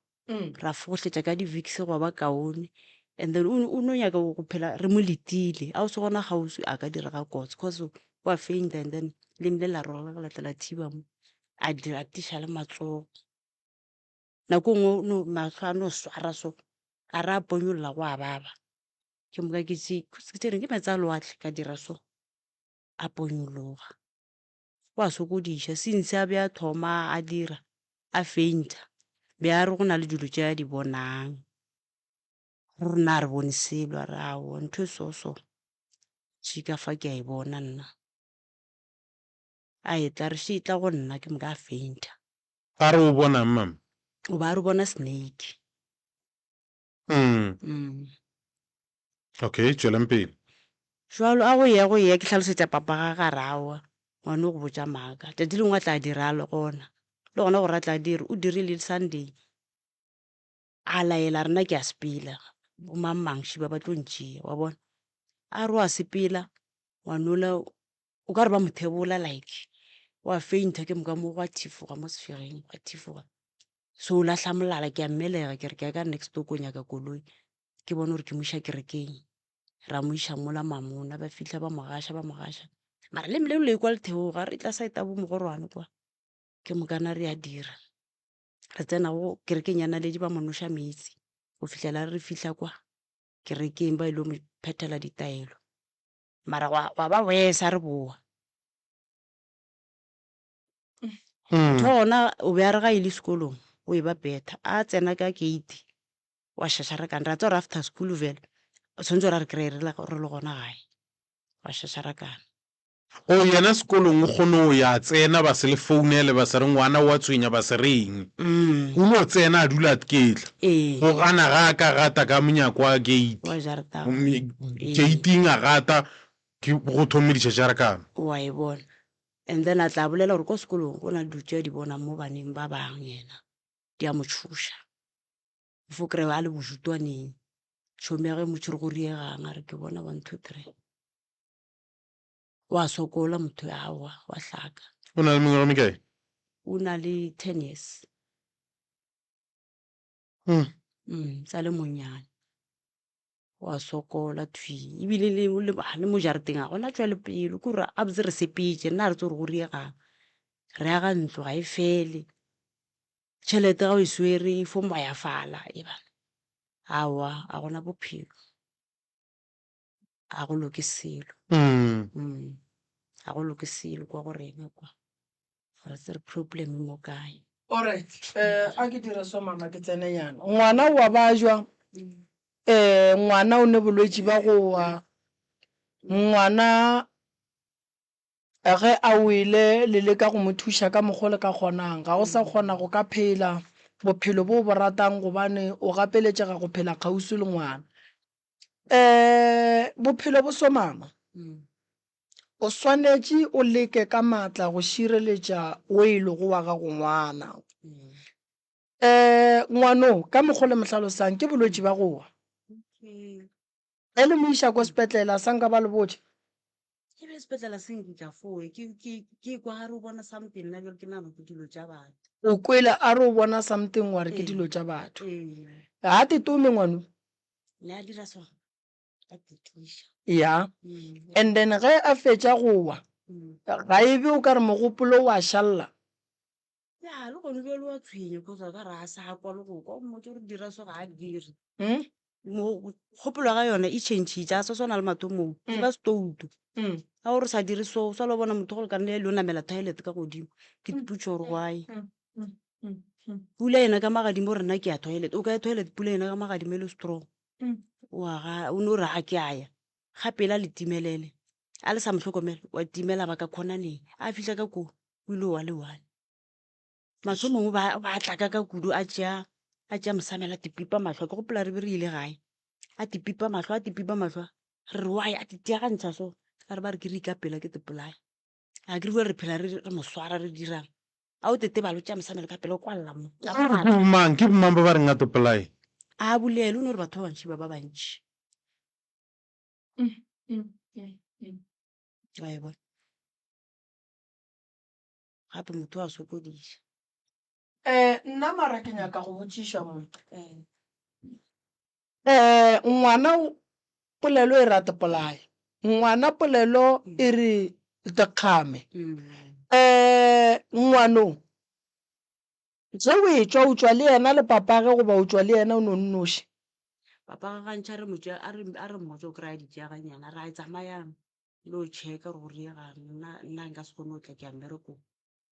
ra fogohletša ka di-vicks go ba kaone and then o ne- o no nyaka go go phela re mo letile a o se gona kgauswi a ka direga kotsi cause wa fainta and then leng le la roga ka latla la thiba mo a di atiša le matsogo nako e nngwe o no- matlho a no swara so a re a ponyolola go a baba ke moka ke tše- ke tše reng ke metsi a lewatle ka dira so a ponyologa go a sokodiša, since a be a thoma a dira a fainter be a re go na le dilo tše a di bonang, rena ga re bone selo, a re aowa ntho e so so se ka fa ke a e bona nna, a etla a re se e tla go nna ke moka a fainter. Ba re o bona'ng mama? O be a re o bona snake. Mm. Okay, tšweleng pele. Jwalo a go ye go ye ke hlalosetša papa ga garawa ngwane o go botša maaka tšatši lengwe a tla dira a le gona le gona gore a tla dire o dirile le sunday a laela rena ke a sepela bomangmangši ba ba tlo ntšea wa bona a re wa sepela ngwanola o ka re ba mothebola like wa fainta ke moka mo gwa thifoga mo sefegeng gwa thifoga So o lahla molala, ke a mmelega ke re ke ya ka next door ko nyaka koloi ke bone gore ke mo iša kerekeng. Ra mo iša mola mamona, ba fitlha ba mo gaša, ba mo gaša. Mara le mmele o le kwa letheogo, a re tla side ya bo mogorwane kwa, ke mokana re a dira. Re tsena go kerekeng ya Naledi ba mo noša meetse go fihlela a re re fitlha kwa kerekeng ba ile go mo phethela ditaelo. Mara gwa, gwa ba worse a re bowa. Mm. tho ona o be a re ga e le sekolong o e ba betha a tsena ka gate wa shashara kane ra tsa gore after school fela o tshwanetse gore a re kry-e re le re le gona gae wa shashara kane o Oh, yena sekolong o kgone o ya tsena ba se le founele ba se re ngwana wa tshwenya ba se reng mm. o no tsena a dula ketla ee go gana ga a ka gata ka monyako wa gate wa jarata Gomme gating a gata ke go thome dišašarakano wa e bona And then a tla bolela gore ko sekolong go na le dilo tše a di bonang mo baneng ba bang yena di a mo tšhoša. O fo kry-e a le bojutwaneng, tšhomi ya ge mo tšhwere go riegang a re ke bona one, two, three. O a sokola motho yo, aowa wa hlaka. O na le mengwaga e mekae? O na le ten years. mm. mm, sa le monyane wa sokola thwi ebile le le ba le mo jareteng a gona tswa le pelo ke gore a botse re sepetse nna re tse gore go riegang re aga ntlo ga e fele tšhelete ga o e swere e fo mbayafala e bana aowa a gona bophelo ga go loke selo ga go loke selo kwa go rena kwa ga re tsere problem mo kae Alright, eh, a ke dire so mama ke tsene yana. Ngwana o wa bajwa, eh, ngwana o ne bolwetši ba go wa, ngwana ge a wele le leka go mo thuša ka mokgwa le ka kgonang ga o sa kgona go ka phela bophelo bo bo ratang gobane o gapeletšega go phela kgauswi le ngwana um bophelo bo somama o swanetše o leke ka maatla go šireletša o e lego wa gago ngwana um ngwano ka mokgwa le mohlalosang ke bolwetši ba gowa e le moiša ko sepetlela sa nka ba le botša ke be sepetlele se nkitla foe ke- ke- ke kwa gare o bona something nna ke re ke nabo ke dilo tša batho o kwele a re o bona something wa re ke Ee. dilo tša batho ee ga te tome ngwano ya and then ge a fetša go wa ga e be o ka re mogopolo wa šalla ya le gone bjalo wa tshwenye kgotsa ka re a sa kwa le go kwa mmotse gore dira so ga a dire hmm? kgopolo ga yone e changitše a sa swana le matomong ke hmm. ba setouto hmm. ga gore sa dire so sa lo bona motho gore ka nne ya le o namela toilet ka godimo ke diputso gore why pula ena ka magadimo rena ke ya toilet o ka ya toilet pula ena ka magadimo e le strong waga o ne o re ga ke aya ga pela le timelele a le sa motlhokomela wa timela ba ka khonaneng a fitlha ka koo o ile wa le one matlho mongwe ba tlaka ka kudu a tšea a tšea mosamela tipipa matlho ke gopola re be re ile gae a tipipa matlho a tipipa matlho re re wa ya titiagantšha so a re ba re ke re ikapela ke tepolaya a ke rue re phela re re mo swara re dirang a o tete balo tša mosamelo ka pele o kwalela mo Ke bomang ke bomang ba ba reng a topolae a bulele o ne gore batho ba bantši ba ba bantši wa e bona gape motho wa sokodisa Eh nna mara ke nyaka go botšiša mo. Eh ngwana polelo e rate polaya. Ngwana polelo e re dikgame. Eh ngwano ge o e tšwa o tšwa le yena le papage goba o tšwa le yena o no nnoši. Papa ga ntšha re motšwa a re a re mmotse o kry-a di tšea ga nyana ra tsamayang lo check-a gore go diega'ng nna nna nka se kgone go tla ke ya mmerekong.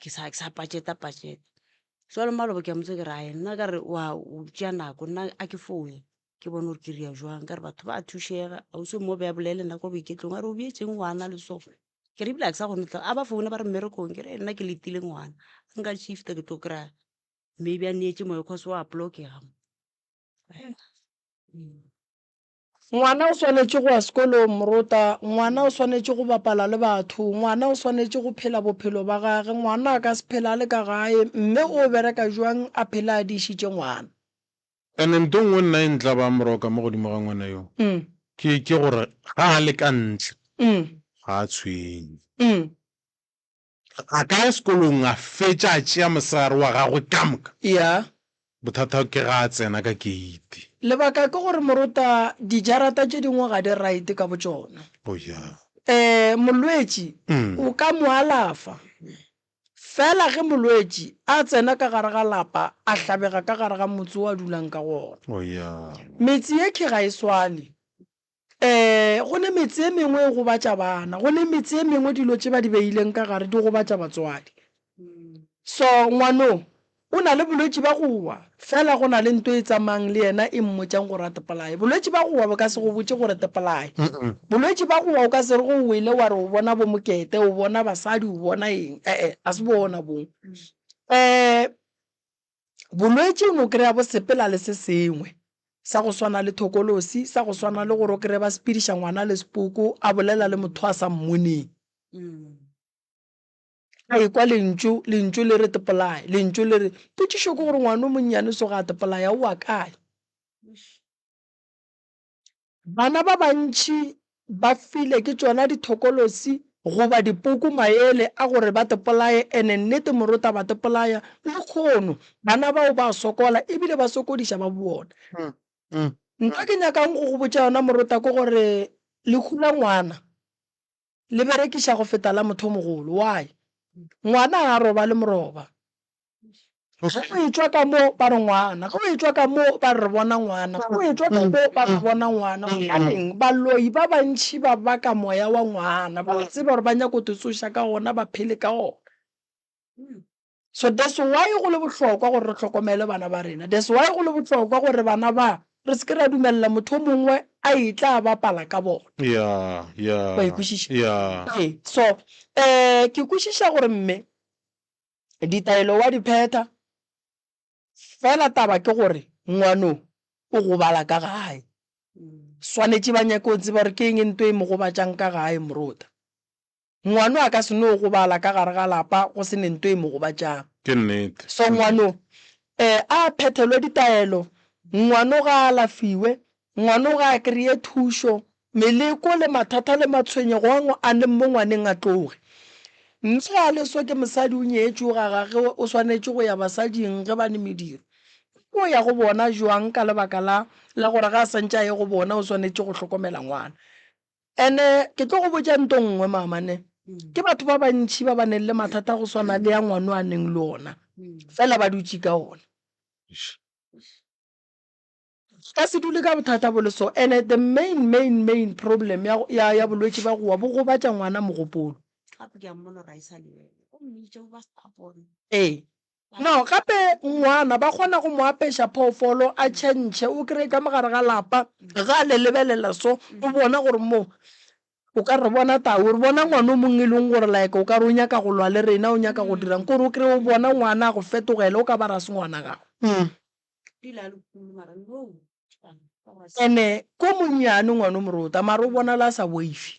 ke sa ke sa pajeta pajeta jwale maloba ke a motse ke re ae nna ka re wa o tšea nako nna a ke foune ke bone gore ke ria jwang ka re batho ba thušega ausi mo be a bolele nna ko boiketlong a re o bjetšeng ngwana le so ke re ebile a ke sa kgone tla a ba foune ba re mmerekong ke re nna ke letile ngwana a nka shifta ke tlo kry-a maybe a neetše moya cause wa blokega mo . Ngwana o swanetše go ya sekolong, morota. Ngwana o swanetše go bapala le batho. Ngwana o swanetše go phela bophelo ba gage. Ngwana a ka se phele a le ka gae. Mme o bereka jwang a phele a dišitše ngwana? And nto nngwe nna e ntla ba moroka mo godimo ga ngwana yo, ke, ke gore ga a le ka ntle, ga a tshwenye. A ka ya sekolong a fetša a tšea mosegare wa gagwe ka moka. Ya. Bothata ke ga a tsena ka keiti. Lebaka ke gore morota dijarata tše dingwe ga di right ka botšona. Oh ya. Eh, molwetši o ka mo alafa. Fela ge molwetši a tsena ka gare ga lapa a hlabega ka gare ga motse o a dulang ka go ona. Oh ya. Metse yekhwi ga e swane. Ee, go ne metse e mengwe e gobatša bana, go ne metse e mengwe dilo tše ba di beileng ka gare di gobatša batswadi. So, ngwano o na le bolwetši ba go wa, fela go na le nto e tsamayang le yena e mmotšang gore a tepolaye. Bolwetši ba go wa bo ka se go botše gore tepolaye. Bolwetši ba go wa o ka se re ge o wele wa re o bona bo mokete, o bona basadi, o bona eng, ee, ga se bona boo. Ee, Bolwetši o no kry-a bo sepela le se sengwe sa go swana le thokolosi, sa go swana le gore o kry-e ba sepediša ngwana le sepoko, a bolela le motho a sa mmoneng. A ekwa lentšu, lentšu le re tepolaye, lentšu le re, potšišo ke gore ngwana o monnyane so ga a tepolaye, a oa kae? Bana ba bantši ba file ke tšona dithokolosi goba dipoko maele a gore ba tepolaye ene nnete morutabatepolaya lekgono. Bana bao ba a sokola ebile ba sokodiša ba bona. Ntho ke nyakang go go botša yona morota ke gore lehu la ngwana le berekiša go feta la mothomogolo. Why? Ngwana ga a robale moroba. Ge o etšwa ka mo ba re ngwana, ge o etšwa ka mo ba re bona ngwana, ge o etšwa ka mo ba re bona ngwana. Gobaneng? Baloi ba bantši ba baka moya wa ngwana, ba tseba gore ba nyaka go te tsoša ka gona, ba phele ka gona. So that's why go le bohlokwa gore re hlokomele bana ba rena. That's why go le bohlokwa gore bana ba re se ke ra dumelela motho mongwe a etla a bapala ka bona. Yeah, yeah. Wa e kwešiša? Yeah. Ee, so um ke kwešiša gore mme ditaelo wa di phetha fela taba ke gore ngwano o gobala ka gae swanetše ba nyake o tseba gore ke eng e nto e mo gobatšang ka gae morota Ngwano a ka se no gobala ka gare ga lapa go se ne nto e mo gobatšang. Ke nnete. So ngwano e a phethelwe ditaelo, ngwano ga a alafiwe, ngwano ga a kreye thušo, meleko le mathata le matshwenyego a ngo a leng mo ngwaneng a tloge. Mme ga a le so ke mosadi o nyetšwe o gagage o swanetše go ya basading ge ba ne mediro. O tlo ya go bona bjwang ka lebaka la la gore ga a santše a ye go bona o swanetše go hlokomela ngwana? Ene ke tlo go botša nto nngwe, maamane. Ke batho ba bantši ba ba neng le mathata go swana le ya ngwano a neng le ona, fela ba dutše ka ona. Ka se dule ka bothata bo le so. Ene the main, main, main problem ya, ya, ya bolwetši ba gowa bo gobatša ngwana mogopolo. Ee. No, gape ngwana ba kgona go mo apeša phoofolo a tšhentšhe, o kry-e ka mogare ga lapa, ga le lebelela so, o bona gore mo, o ka re bona tau, o re bona ngwana o mongwe e leng gore like o ka re o nyaka go lwa le rena, o nyaka go dirang, kore o kry-e o bona ngwana a go fetogele, o ka ba rase ngwana gago. And-e ko monnyane ngwana o morota, mara o bonala a sa boife.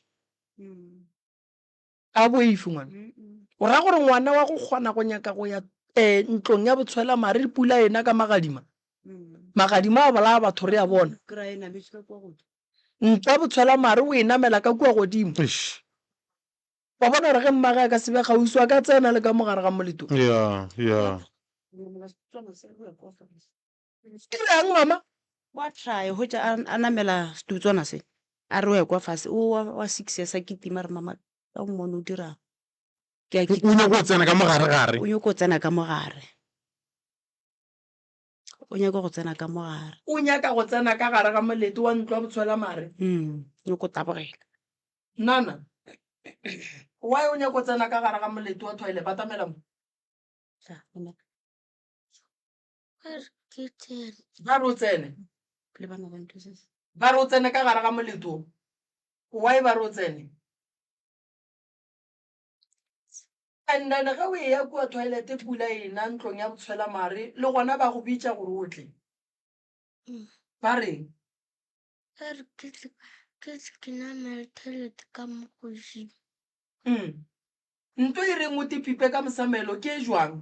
A boifi ngwana. O ra gore ngwana wa go kgona go nyaka go ya um ntlong ya botshwela mare pula ena ka magadima. Magadima a bolaya batho re a bona. Ntlo ya botshwela mare o e namela ka kua godimo. Wa bona gore ge mmage a ka sebe gausi a ka tsena le ka mogare ga moleto. Yeah, yeah. Ke reng mama? Wa try go tša a namela setutswana se a re o ekwa fase o wa wa six years a kitima re mama ka o mone o dira ke a kitima o nyako o tsena ka mogare gare o nyako o tsena ka mogare o nyako go tsena ka mogare o nyaka go tsena ka gare ga molete wa ntlo wa botshwela mare mm nyako tabogela nana why o nyako tsena ka gare ga molete wa toilet batamela mo ba re o tsene ba re o tsene ka gare ga moleto why ba re o tsene and then ge o e ya kua toilet pula ena ntlong ya botshwela mare le gona ba go bitša gore o tle mm. ba reng mm. nto e reng o tepipe ka mosamelo ke e jwang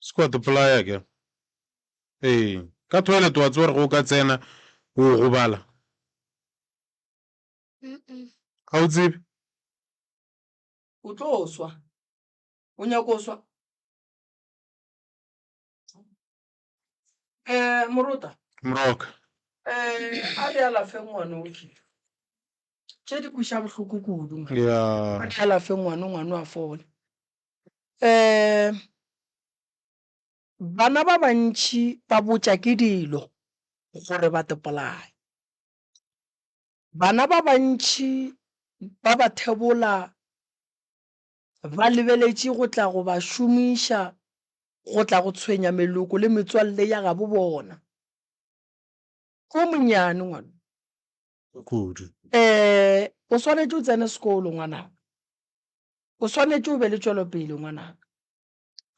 Se ke wa topolaya ke. Ee, ka toilet wa tseba gore ge o ka tsena o gobala. Ga o tsebe? O tlo swa. O nyako o swa? Um morota. Moroka. Um a re alafe ngwano o kile. Tše di kweša bohloko kudu. Ya. A re alafe ngwano, ngwano a fole. um bana ba bantši ba botša ke dilo gore ba topolaye bana ba bantši ba ba thebola ba lebeletše go tla go ba šomiša go tla go tshwenya meloko le metswalle ya gabo bona ko monyane ngwana kudu um o swanetše o tsene sekolo ngwanaka O swanetše o be le tšwelopele, ngwanaka.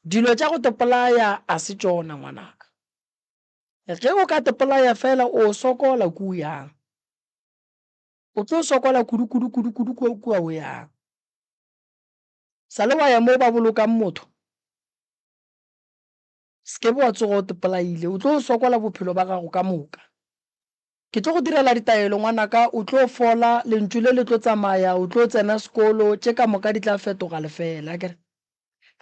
Dilo tša go tepolaya a se tšona, ngwanaka. Ge o ka tepolaya fela o sokola ku o yang. O tlo sokola kudu, kudu, kudu, kudu kua, kua o yang. Sa le wa ya moo ba bolokang motho? Se ke be wa tsoga o tepolaile. O tlo sokola bophelo ba gago ka moka. Ke tlo go direla ditaelo, ngwanaka. O tlo fola. Lentšu le le tlo tsamaya. O tlo tsena sekolo. Tše ka moka di tla fetoga lefeela. Akere?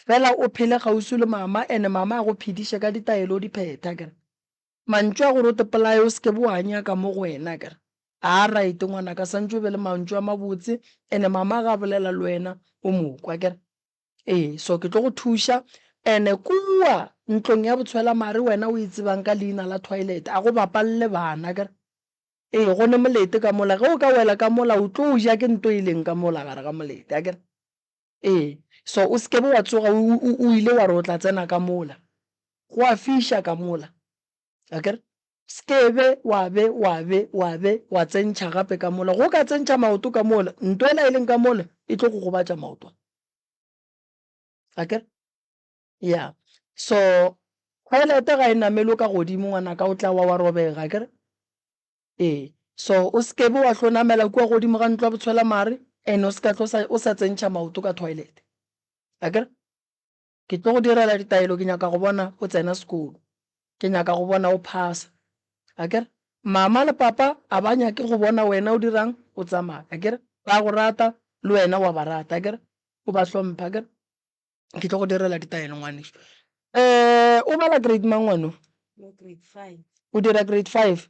Feela o phele kgauswi le Mama, and Mama a go phediše ka ditaelo o di phethe. Akere? Mantšu a gore o tepolaye, o se ke be wa a nyaka mo go wena. Akere? Aa, right, ngwanaka. Santše o be le mantšu a mabotse, and Mama ge a bolela le wena, o mo kwa. Akere? Ee, so ke tlo go thuša. Ene kua ntlong ya botshwela mare wena o e tsebang ka leina la toilet, a go bapalle bana kere. Ee, go ne molete ka mola, ge o ka wela ka mola o tlo ja ke nto e leng ka mola gare ga molete, a kere. Ee, so o se ke be wa tsoga o ile wa re o tla tsena ka mola, go a fiša ka mola. akere sekebe wa be wa be wa be wa tsentšha gape ka mola go ka tsentšha maoto ka mola nto ela e leng ka mola e tlo go gobatša maoto akere ya so toilete ga e namelo ka godimo ngwana ka o tla wa wa robega akere ee so o sekebe wa tlo namela kua godimo ga ntlo ya botshwela mare and o seka tlo o sa tsentšha maoto ka toilete akere Ke tlo go direla ditaelo, ke nyaka go bona o tsena sekolo, ke nyaka go bona o phasa. Akere? Mama le papa a ba nyake go bona wena o dirang, o tsamaya. Akere? Ba go rata, le wena wa ba rata. Akere? O ba hlompha. Akere? Ke tlo go direla ditaelo, ngwanešu. Um, o bala grade mang ngwano? O dira grade five.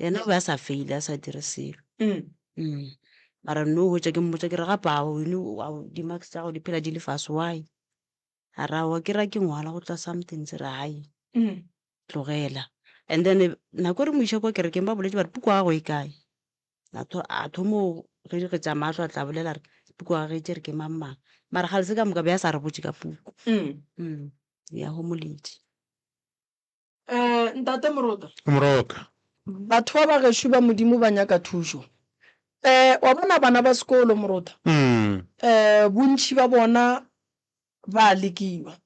Yena o be a sa feile, a sa dire selo. Mm. Mara no hwetša ke mmotša ke re gape a o eno a o di-marks tša gago di phela di le fase why? A ra wa ke ra ke ngwala go tla something se re hai tlogela. And then eh, nako e re mo iša kwa kerekeng ba boletše ba re puku ya gago e kae? A tho- a thomo ge di kgetša mahlo a tla bolela re puku ya gage e tšere ke mang mang. Mara ga le se ka moka be a sa re botše ka puku. Mm. Ya homoletše. Eh, ntate Moroka. Moroka. Batho ba ba gešo ba Modimo ba nyaka thušo. Eh, wa bona bana ba sekolo, Moroka. Mm. Eh, bontši ba bona ba lekiwa.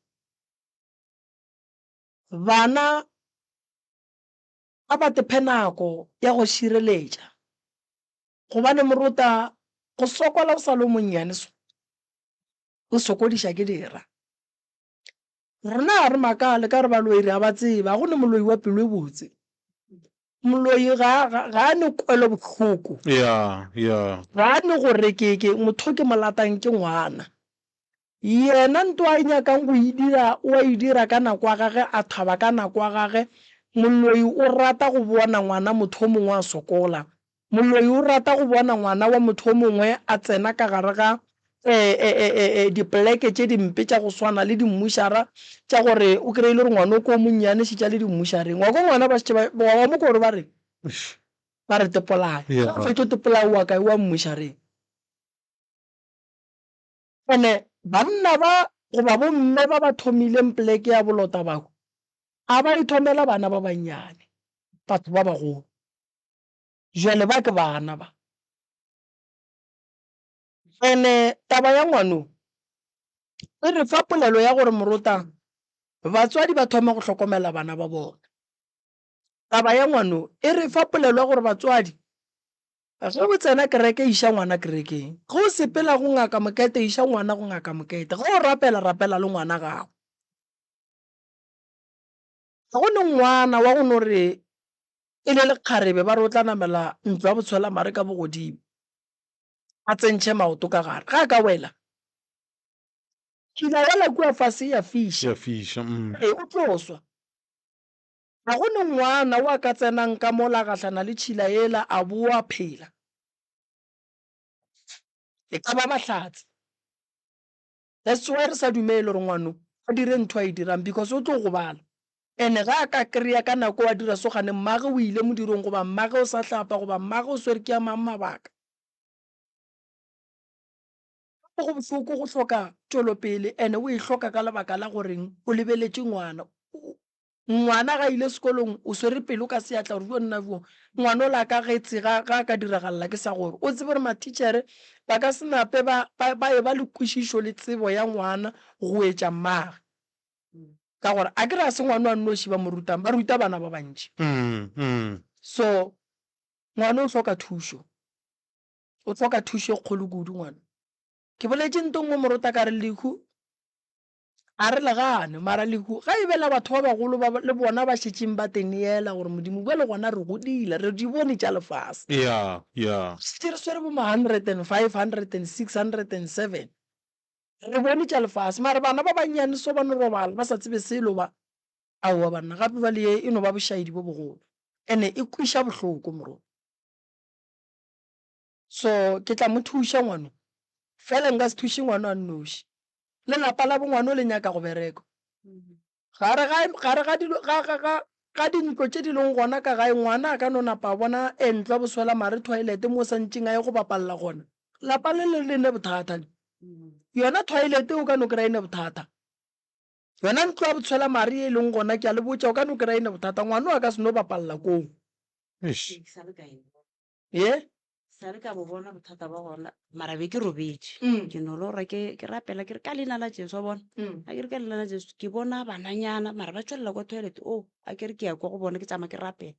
Bana a ba tephe nako ya go šireletša. Gobane Moroka, go sokola o sa lo monnyane so, o sokodiša ke dira. Rena ga re makale ka re baloi re a ba tseba, go ne moloi wa pelo e botse. Moloi ga, ga, ga a ne kwelo bohloko. ya ya Ga a ne gore ke, ke motho ke mo latang ke ngwana. Yena nto a e nyakang go e dira, o a e dira ka nako ya gage, a thaba ka nako ya gage. Moloi o rata go bona ngwana motho o mongwe a sokola. Moloi o rata go bona ngwana wa motho o mongwe a tsena ka gare ga dipoleke tše dimpe tša go swana le dimmušara tša gore o kry-e le gore ngwana o ko o monnyane šetša le dimmušareng. Wa kwa ngwana ba šetše ba wa mo ko gore ba re ba re tepolae. Ga o fetše o tepolae o wa kae? O wa mmušareng. And-e banna ba goba bomme ba ba thomileng poleke ya bolota bao a ba e thomela bana ba bannyane, batho ba bagolo. Bjale ba ke bana ba. And-e taba ya ngwano e re fa polelo ya gore morotang batswadi ba thoma go hlokomela bana ba bona. Taba ya ngwano e re fa polelo ya gore batswadi ge o tsena kereke iša ngwana kerekeng, ge o sepela go ngaka mokete iša ngwana go ngaka mokete, ge o rapela rapela le ngwana gago. Ga go ne ngwana wa go no re e le lekgarebe ba re o tla namela ntlo ya botshwelamare ka bogodimo a tsentšhe maoto ka gare ga a ka wela. Ke ile wela kua fase ya fiša. Ya fiša, mm. Ee, o tlo swa. Ga go ne ngwana o a ka tsenang ka mola gahlana le tšhila yela a bo a phela. E ka ba Mahlatse. That's why re sa dumele gore ngwano a dire ntho a e dirang because o tlo gobala. And ga a ka kreya ka nako a dira so gane mmage o ile modirong goba mmage o sa hlapa goba mmage o swere ke a mang mabaka. Go bohloko go hloka tšwelopele and o e hloka ka lebaka la goreng o lebeletše ngwana. Ngwana ga ile sekolong o swere pelo ka seatla gore bjo nna bjo ngwana o la ka getse ga a ka diragalela ke sa gore o tsebe gore matichere ba ka se nape ba ba e ba le kwešišo le tsebo ya ngwana go etša mmage ka gore a ke re a se ngwana wa nnoši ba mo rutang ba ruta bana ba bantši so ngwana o hloka thušo o hloka thušo e kgolo kudu ngwana ke boletše ntong mo morota ka re lehu a re le gane mara lehu ga e bela batho ba bagolo ba le bona ba šetšeng ba teneela gore modimo bjale gona re godile re di bone tša lefase yeah yeah šetše re swere bo ma hundred and five hundred and six hundred and seven re bone tša lefase mara bana ba bannyane so ba no robala ba sa tsebe selo ba aowa banna gape ba le e no ba bošaedi bo bogolo ene e kweša bohloko morong So ke tla mo thuša ngwano. Fela nka se thuše ngwano a nnoši. Le lapa la bo ngwano le nyaka go bereko. Gare ga, gare ga dilo, ga, ga, ga, ga dintlo tše di leng gona ka gae, ngwana a ka no napa a bona entlwa boswela mare thwaelete moo sa ntšeng a ye go bapalela gona. Lapa le le, le ne bothata le. Yona thwaelete o ka no kry-a e ne bothata. Yona ntlo ya botshwela mare ye e leng gona, ke a le botša, o ka no kry-a e ne bothata. Ngwano a ka se no bapalela koo. Eish. ye sa le ka bo bona bothata ba gona mara be ke robetše Mm. ke no lora ke ke rapela ke re ka leina la jesu wa bona Mm. a ke re ka leina la jesu ke bona bananyana mara ba tswelela kwa toilet o a ke re ke ya kwa go bona ke tsamaya ke rapela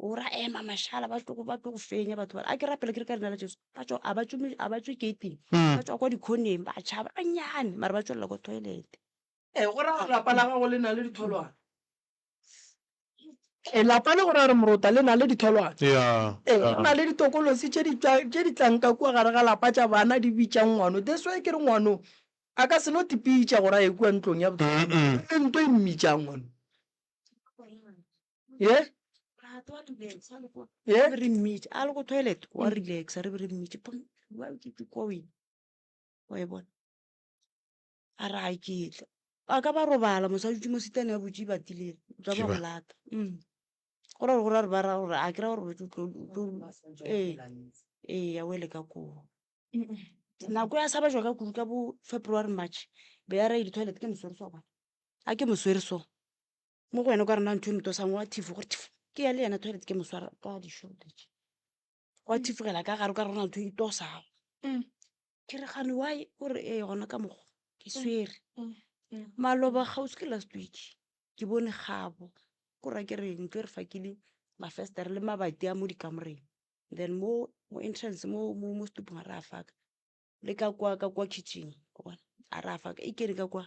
o ra ema mashala ba tlo ba tlo go fenya batho bana a ke rapela ke re ka leina la jesu ba tswa a ba tswe me- a ba tswe gating Mm. ba tswa kwa dikhoneng ba tšhaba banyane mara ba tswelela kwa toilet e go ra gore lapa la gago le na le ditholwana Lapa le gore a re morota le na le ditholwana. Ee, go na le ditokolosi tše di tlang ka kua gare ga lapa tša bana di bitšang ngwano. That's why ke re ngwano a ka se no tipitša gore a ye kua ntlong ya le nto e mmitšang ngwano. Ye? Ye? Re mmitša, a le go toilet, wa relaxa, re be re mmitše, wa e bona? a re a ketla ba ka ba robala mosadi dutse mo sitane ya botse ibatilere tsa ba go lata mm. go ra gore go ra gore ba ra gore a ke ra gore botse ee ee ya wele ka koo nako ya sa ba jwa ka kudu ka bo february march be ya rae di-toilet ke moswere so bona a ke moswere so mo go wena o ka rena ntho e motosang wa thifo gore thifo ke ya le yena toilet ke moswara ka di-shortage gwa thifogela ka gare ka rona ntho e tosago Mm. ke re gane wa o re ee gona ka mokgwa ke swere Mm. Mm. maloba kgauswi ke last week ke bone gabo ko ra ke re ntlo e re fakile mafestere le mabati a mo dikamoreng then mo mo entrance mo mo mo stupong a re a faka le ka kwa ka kwa kitchen wa bona a re a faka e kene ka kwa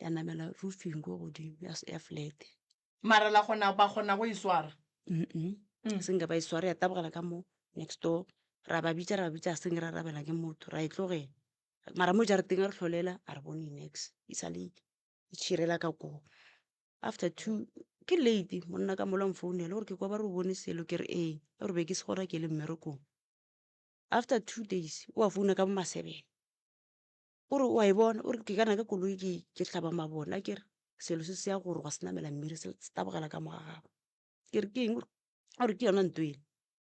ya namela roofing ko godimo ya, ya flat mara la kgona ba kgona go e swara Mm. senke ba e sware ya tabogela ka mo next door ra ba bitša ra ba bitša seng ra rabela ke motho ra e tlogela mara mo jarateng a re tlholela a re bone nex e sale e tšhirela ka koo after two ke late monna ka mola mfounela gore ke kwa ba re o bone selo ke re ee a gore be ke se gona ke le mmerekong after two days o a founa ka bo masebele O re, o a e bona, o re, ke kana ka koloi ke, ke hlaba mabone a kere selo se se ya gore gwa se namela mmiri se, se tabogela ka moga gago. Ke re, ke eng? O re, o re, ke yona nto ele.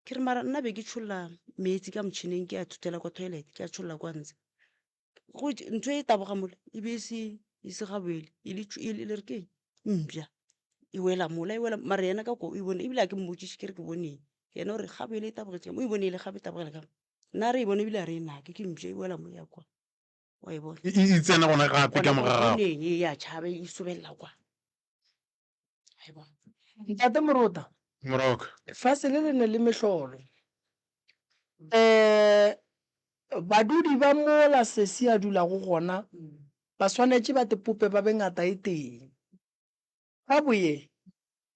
Ke re, mara nna be ke tšholla meetse ka motšhineng ke a thuthela kwa toilet, ke a tšholla kwa ntshe. Go tšhe, ntho e taboga mola e be e se, e se gabele e le tšhu, e le, le re ke eng? Mpša e wela mola, e wela, mara yena ka kwa o e bone, ebile ga ke mmotšiše ke re ke bone eng. Yena o re, gabele e tabogetše ka mo, o e bone ele gabe e tabogela ka mo. nna re e bone ebile a re e nake ke mpša e boela moya kwa wa e bona e e tsena gona gape ka morago neng e ya tšhaba e sobelela kwa wa e bona ntate morota moroka fase le le ne le mehlolo um badudi ba mola sesi a dulago gona ba swanetše ba tepope ba be ngata e teng Tabu ye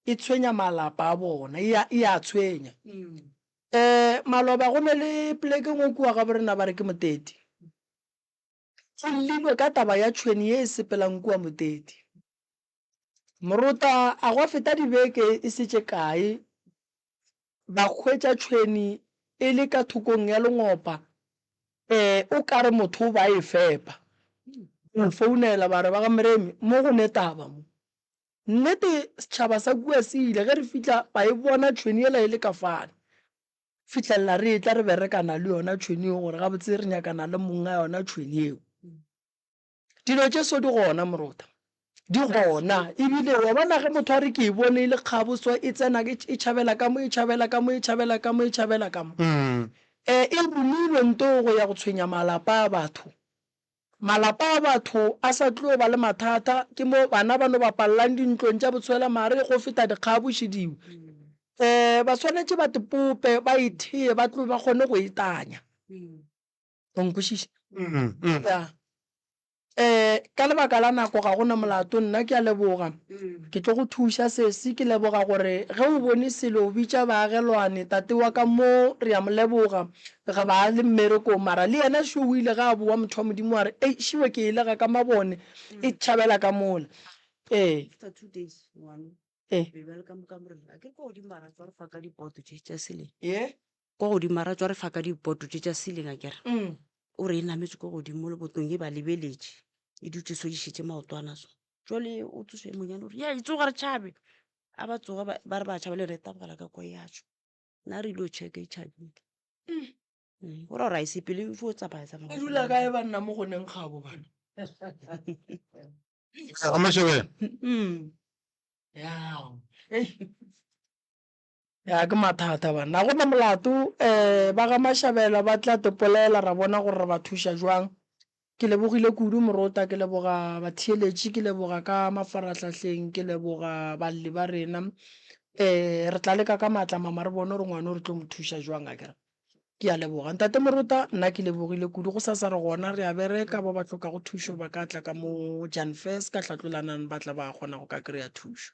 e tshwenya malapa a bona, e a, e a tshwenya. Eh, maloba go ne le pleke engwe kua gabo rena ba re ke Moteti. Go llilwe ka taba ya tšhweni ye e sepelang kua Moteti. Moruta a gwa feta dibeke e se tše kae ba hwetša tšhwene e le ka thokong ya lengopa, ee, o ka re motho o ba e fepa. Ba founela ba re, Ba ga Mremi, mo go ne taba mo. Nnete, setšhaba sa kua se ile, ge re fihla ba e bona tšhwene yela e le ka fale. Fihlelela re etla re berekana le yona tšhwene yeo gore gabotse re nyakana le monga yona tšhwene yeo. Dilo tše so di gona moruta di gona ebile wa bona ge motho a re ke e bone e le kgabotswa e tsena e tšhabela ka mo e tšhabela ka mo e tšhabela ka mo e tšhabela ka mo um e romilwe nto go ya go tshwenya malapa a batho malapa a batho a sa tlo ba le mathata ke mo bana ba no ba pallang dintlong tša botshwela mare go feta dikgaboši diwe um ba swanetše ba tepope ba ethee ba tlo ba kgone go etanya o nkwešiša mm, mm. yeah. Eh, ka lebaka la nako ga gona molato nna ke a leboga mm. ke tlo go thuša sesi ke leboga gore ge o bone selo o bitša baagelwane tate wa ka mo re a mo leboga re ba le mmerekong mara le yena šo o ile ga a boa motho wa modimo wa re ei šiwe ke elega ka mabone mm. e tšhabela ka mola ee eh. ee kwa godimo ara tswa re fa ka diboto tše tša ceiling a kere o re e nametše kwa godimo mo lebotong e ba lebeletše e dutse so dišetse maotwana so jale o tsoso e monyane gore ya e tsoga re tšhabe a ba tsoga ba ba re ba tšhaba le re e tabogela ka kwa ya tšwa na re ile checka e tšhabile Mm, o ra gore a e sepele fo tsamaya tsamaya e dula kae banna mo goneng gabo bana Ramashebele. Mm. yao ei Ya ke mathata banna ga gona molato um ba ga Mashabela ba tla tepolela ra bona gore re ba thuša jwang ke lebogile kudu morota ke leboga batheeletši ke leboga ka mafarahlahleng ke leboga balli ba rena um re tla leka ka maatla mama re bone gore ngwane o re tlo mo thuša jwang a kere ke a leboga ntate morota nna ke lebogile kudu go sa sa re gona re a bereka ba ba tlhokago thušo ba ka tla ka mo jan fes ka hlatlolanang ba tla ba kgona go ka kry-a thušo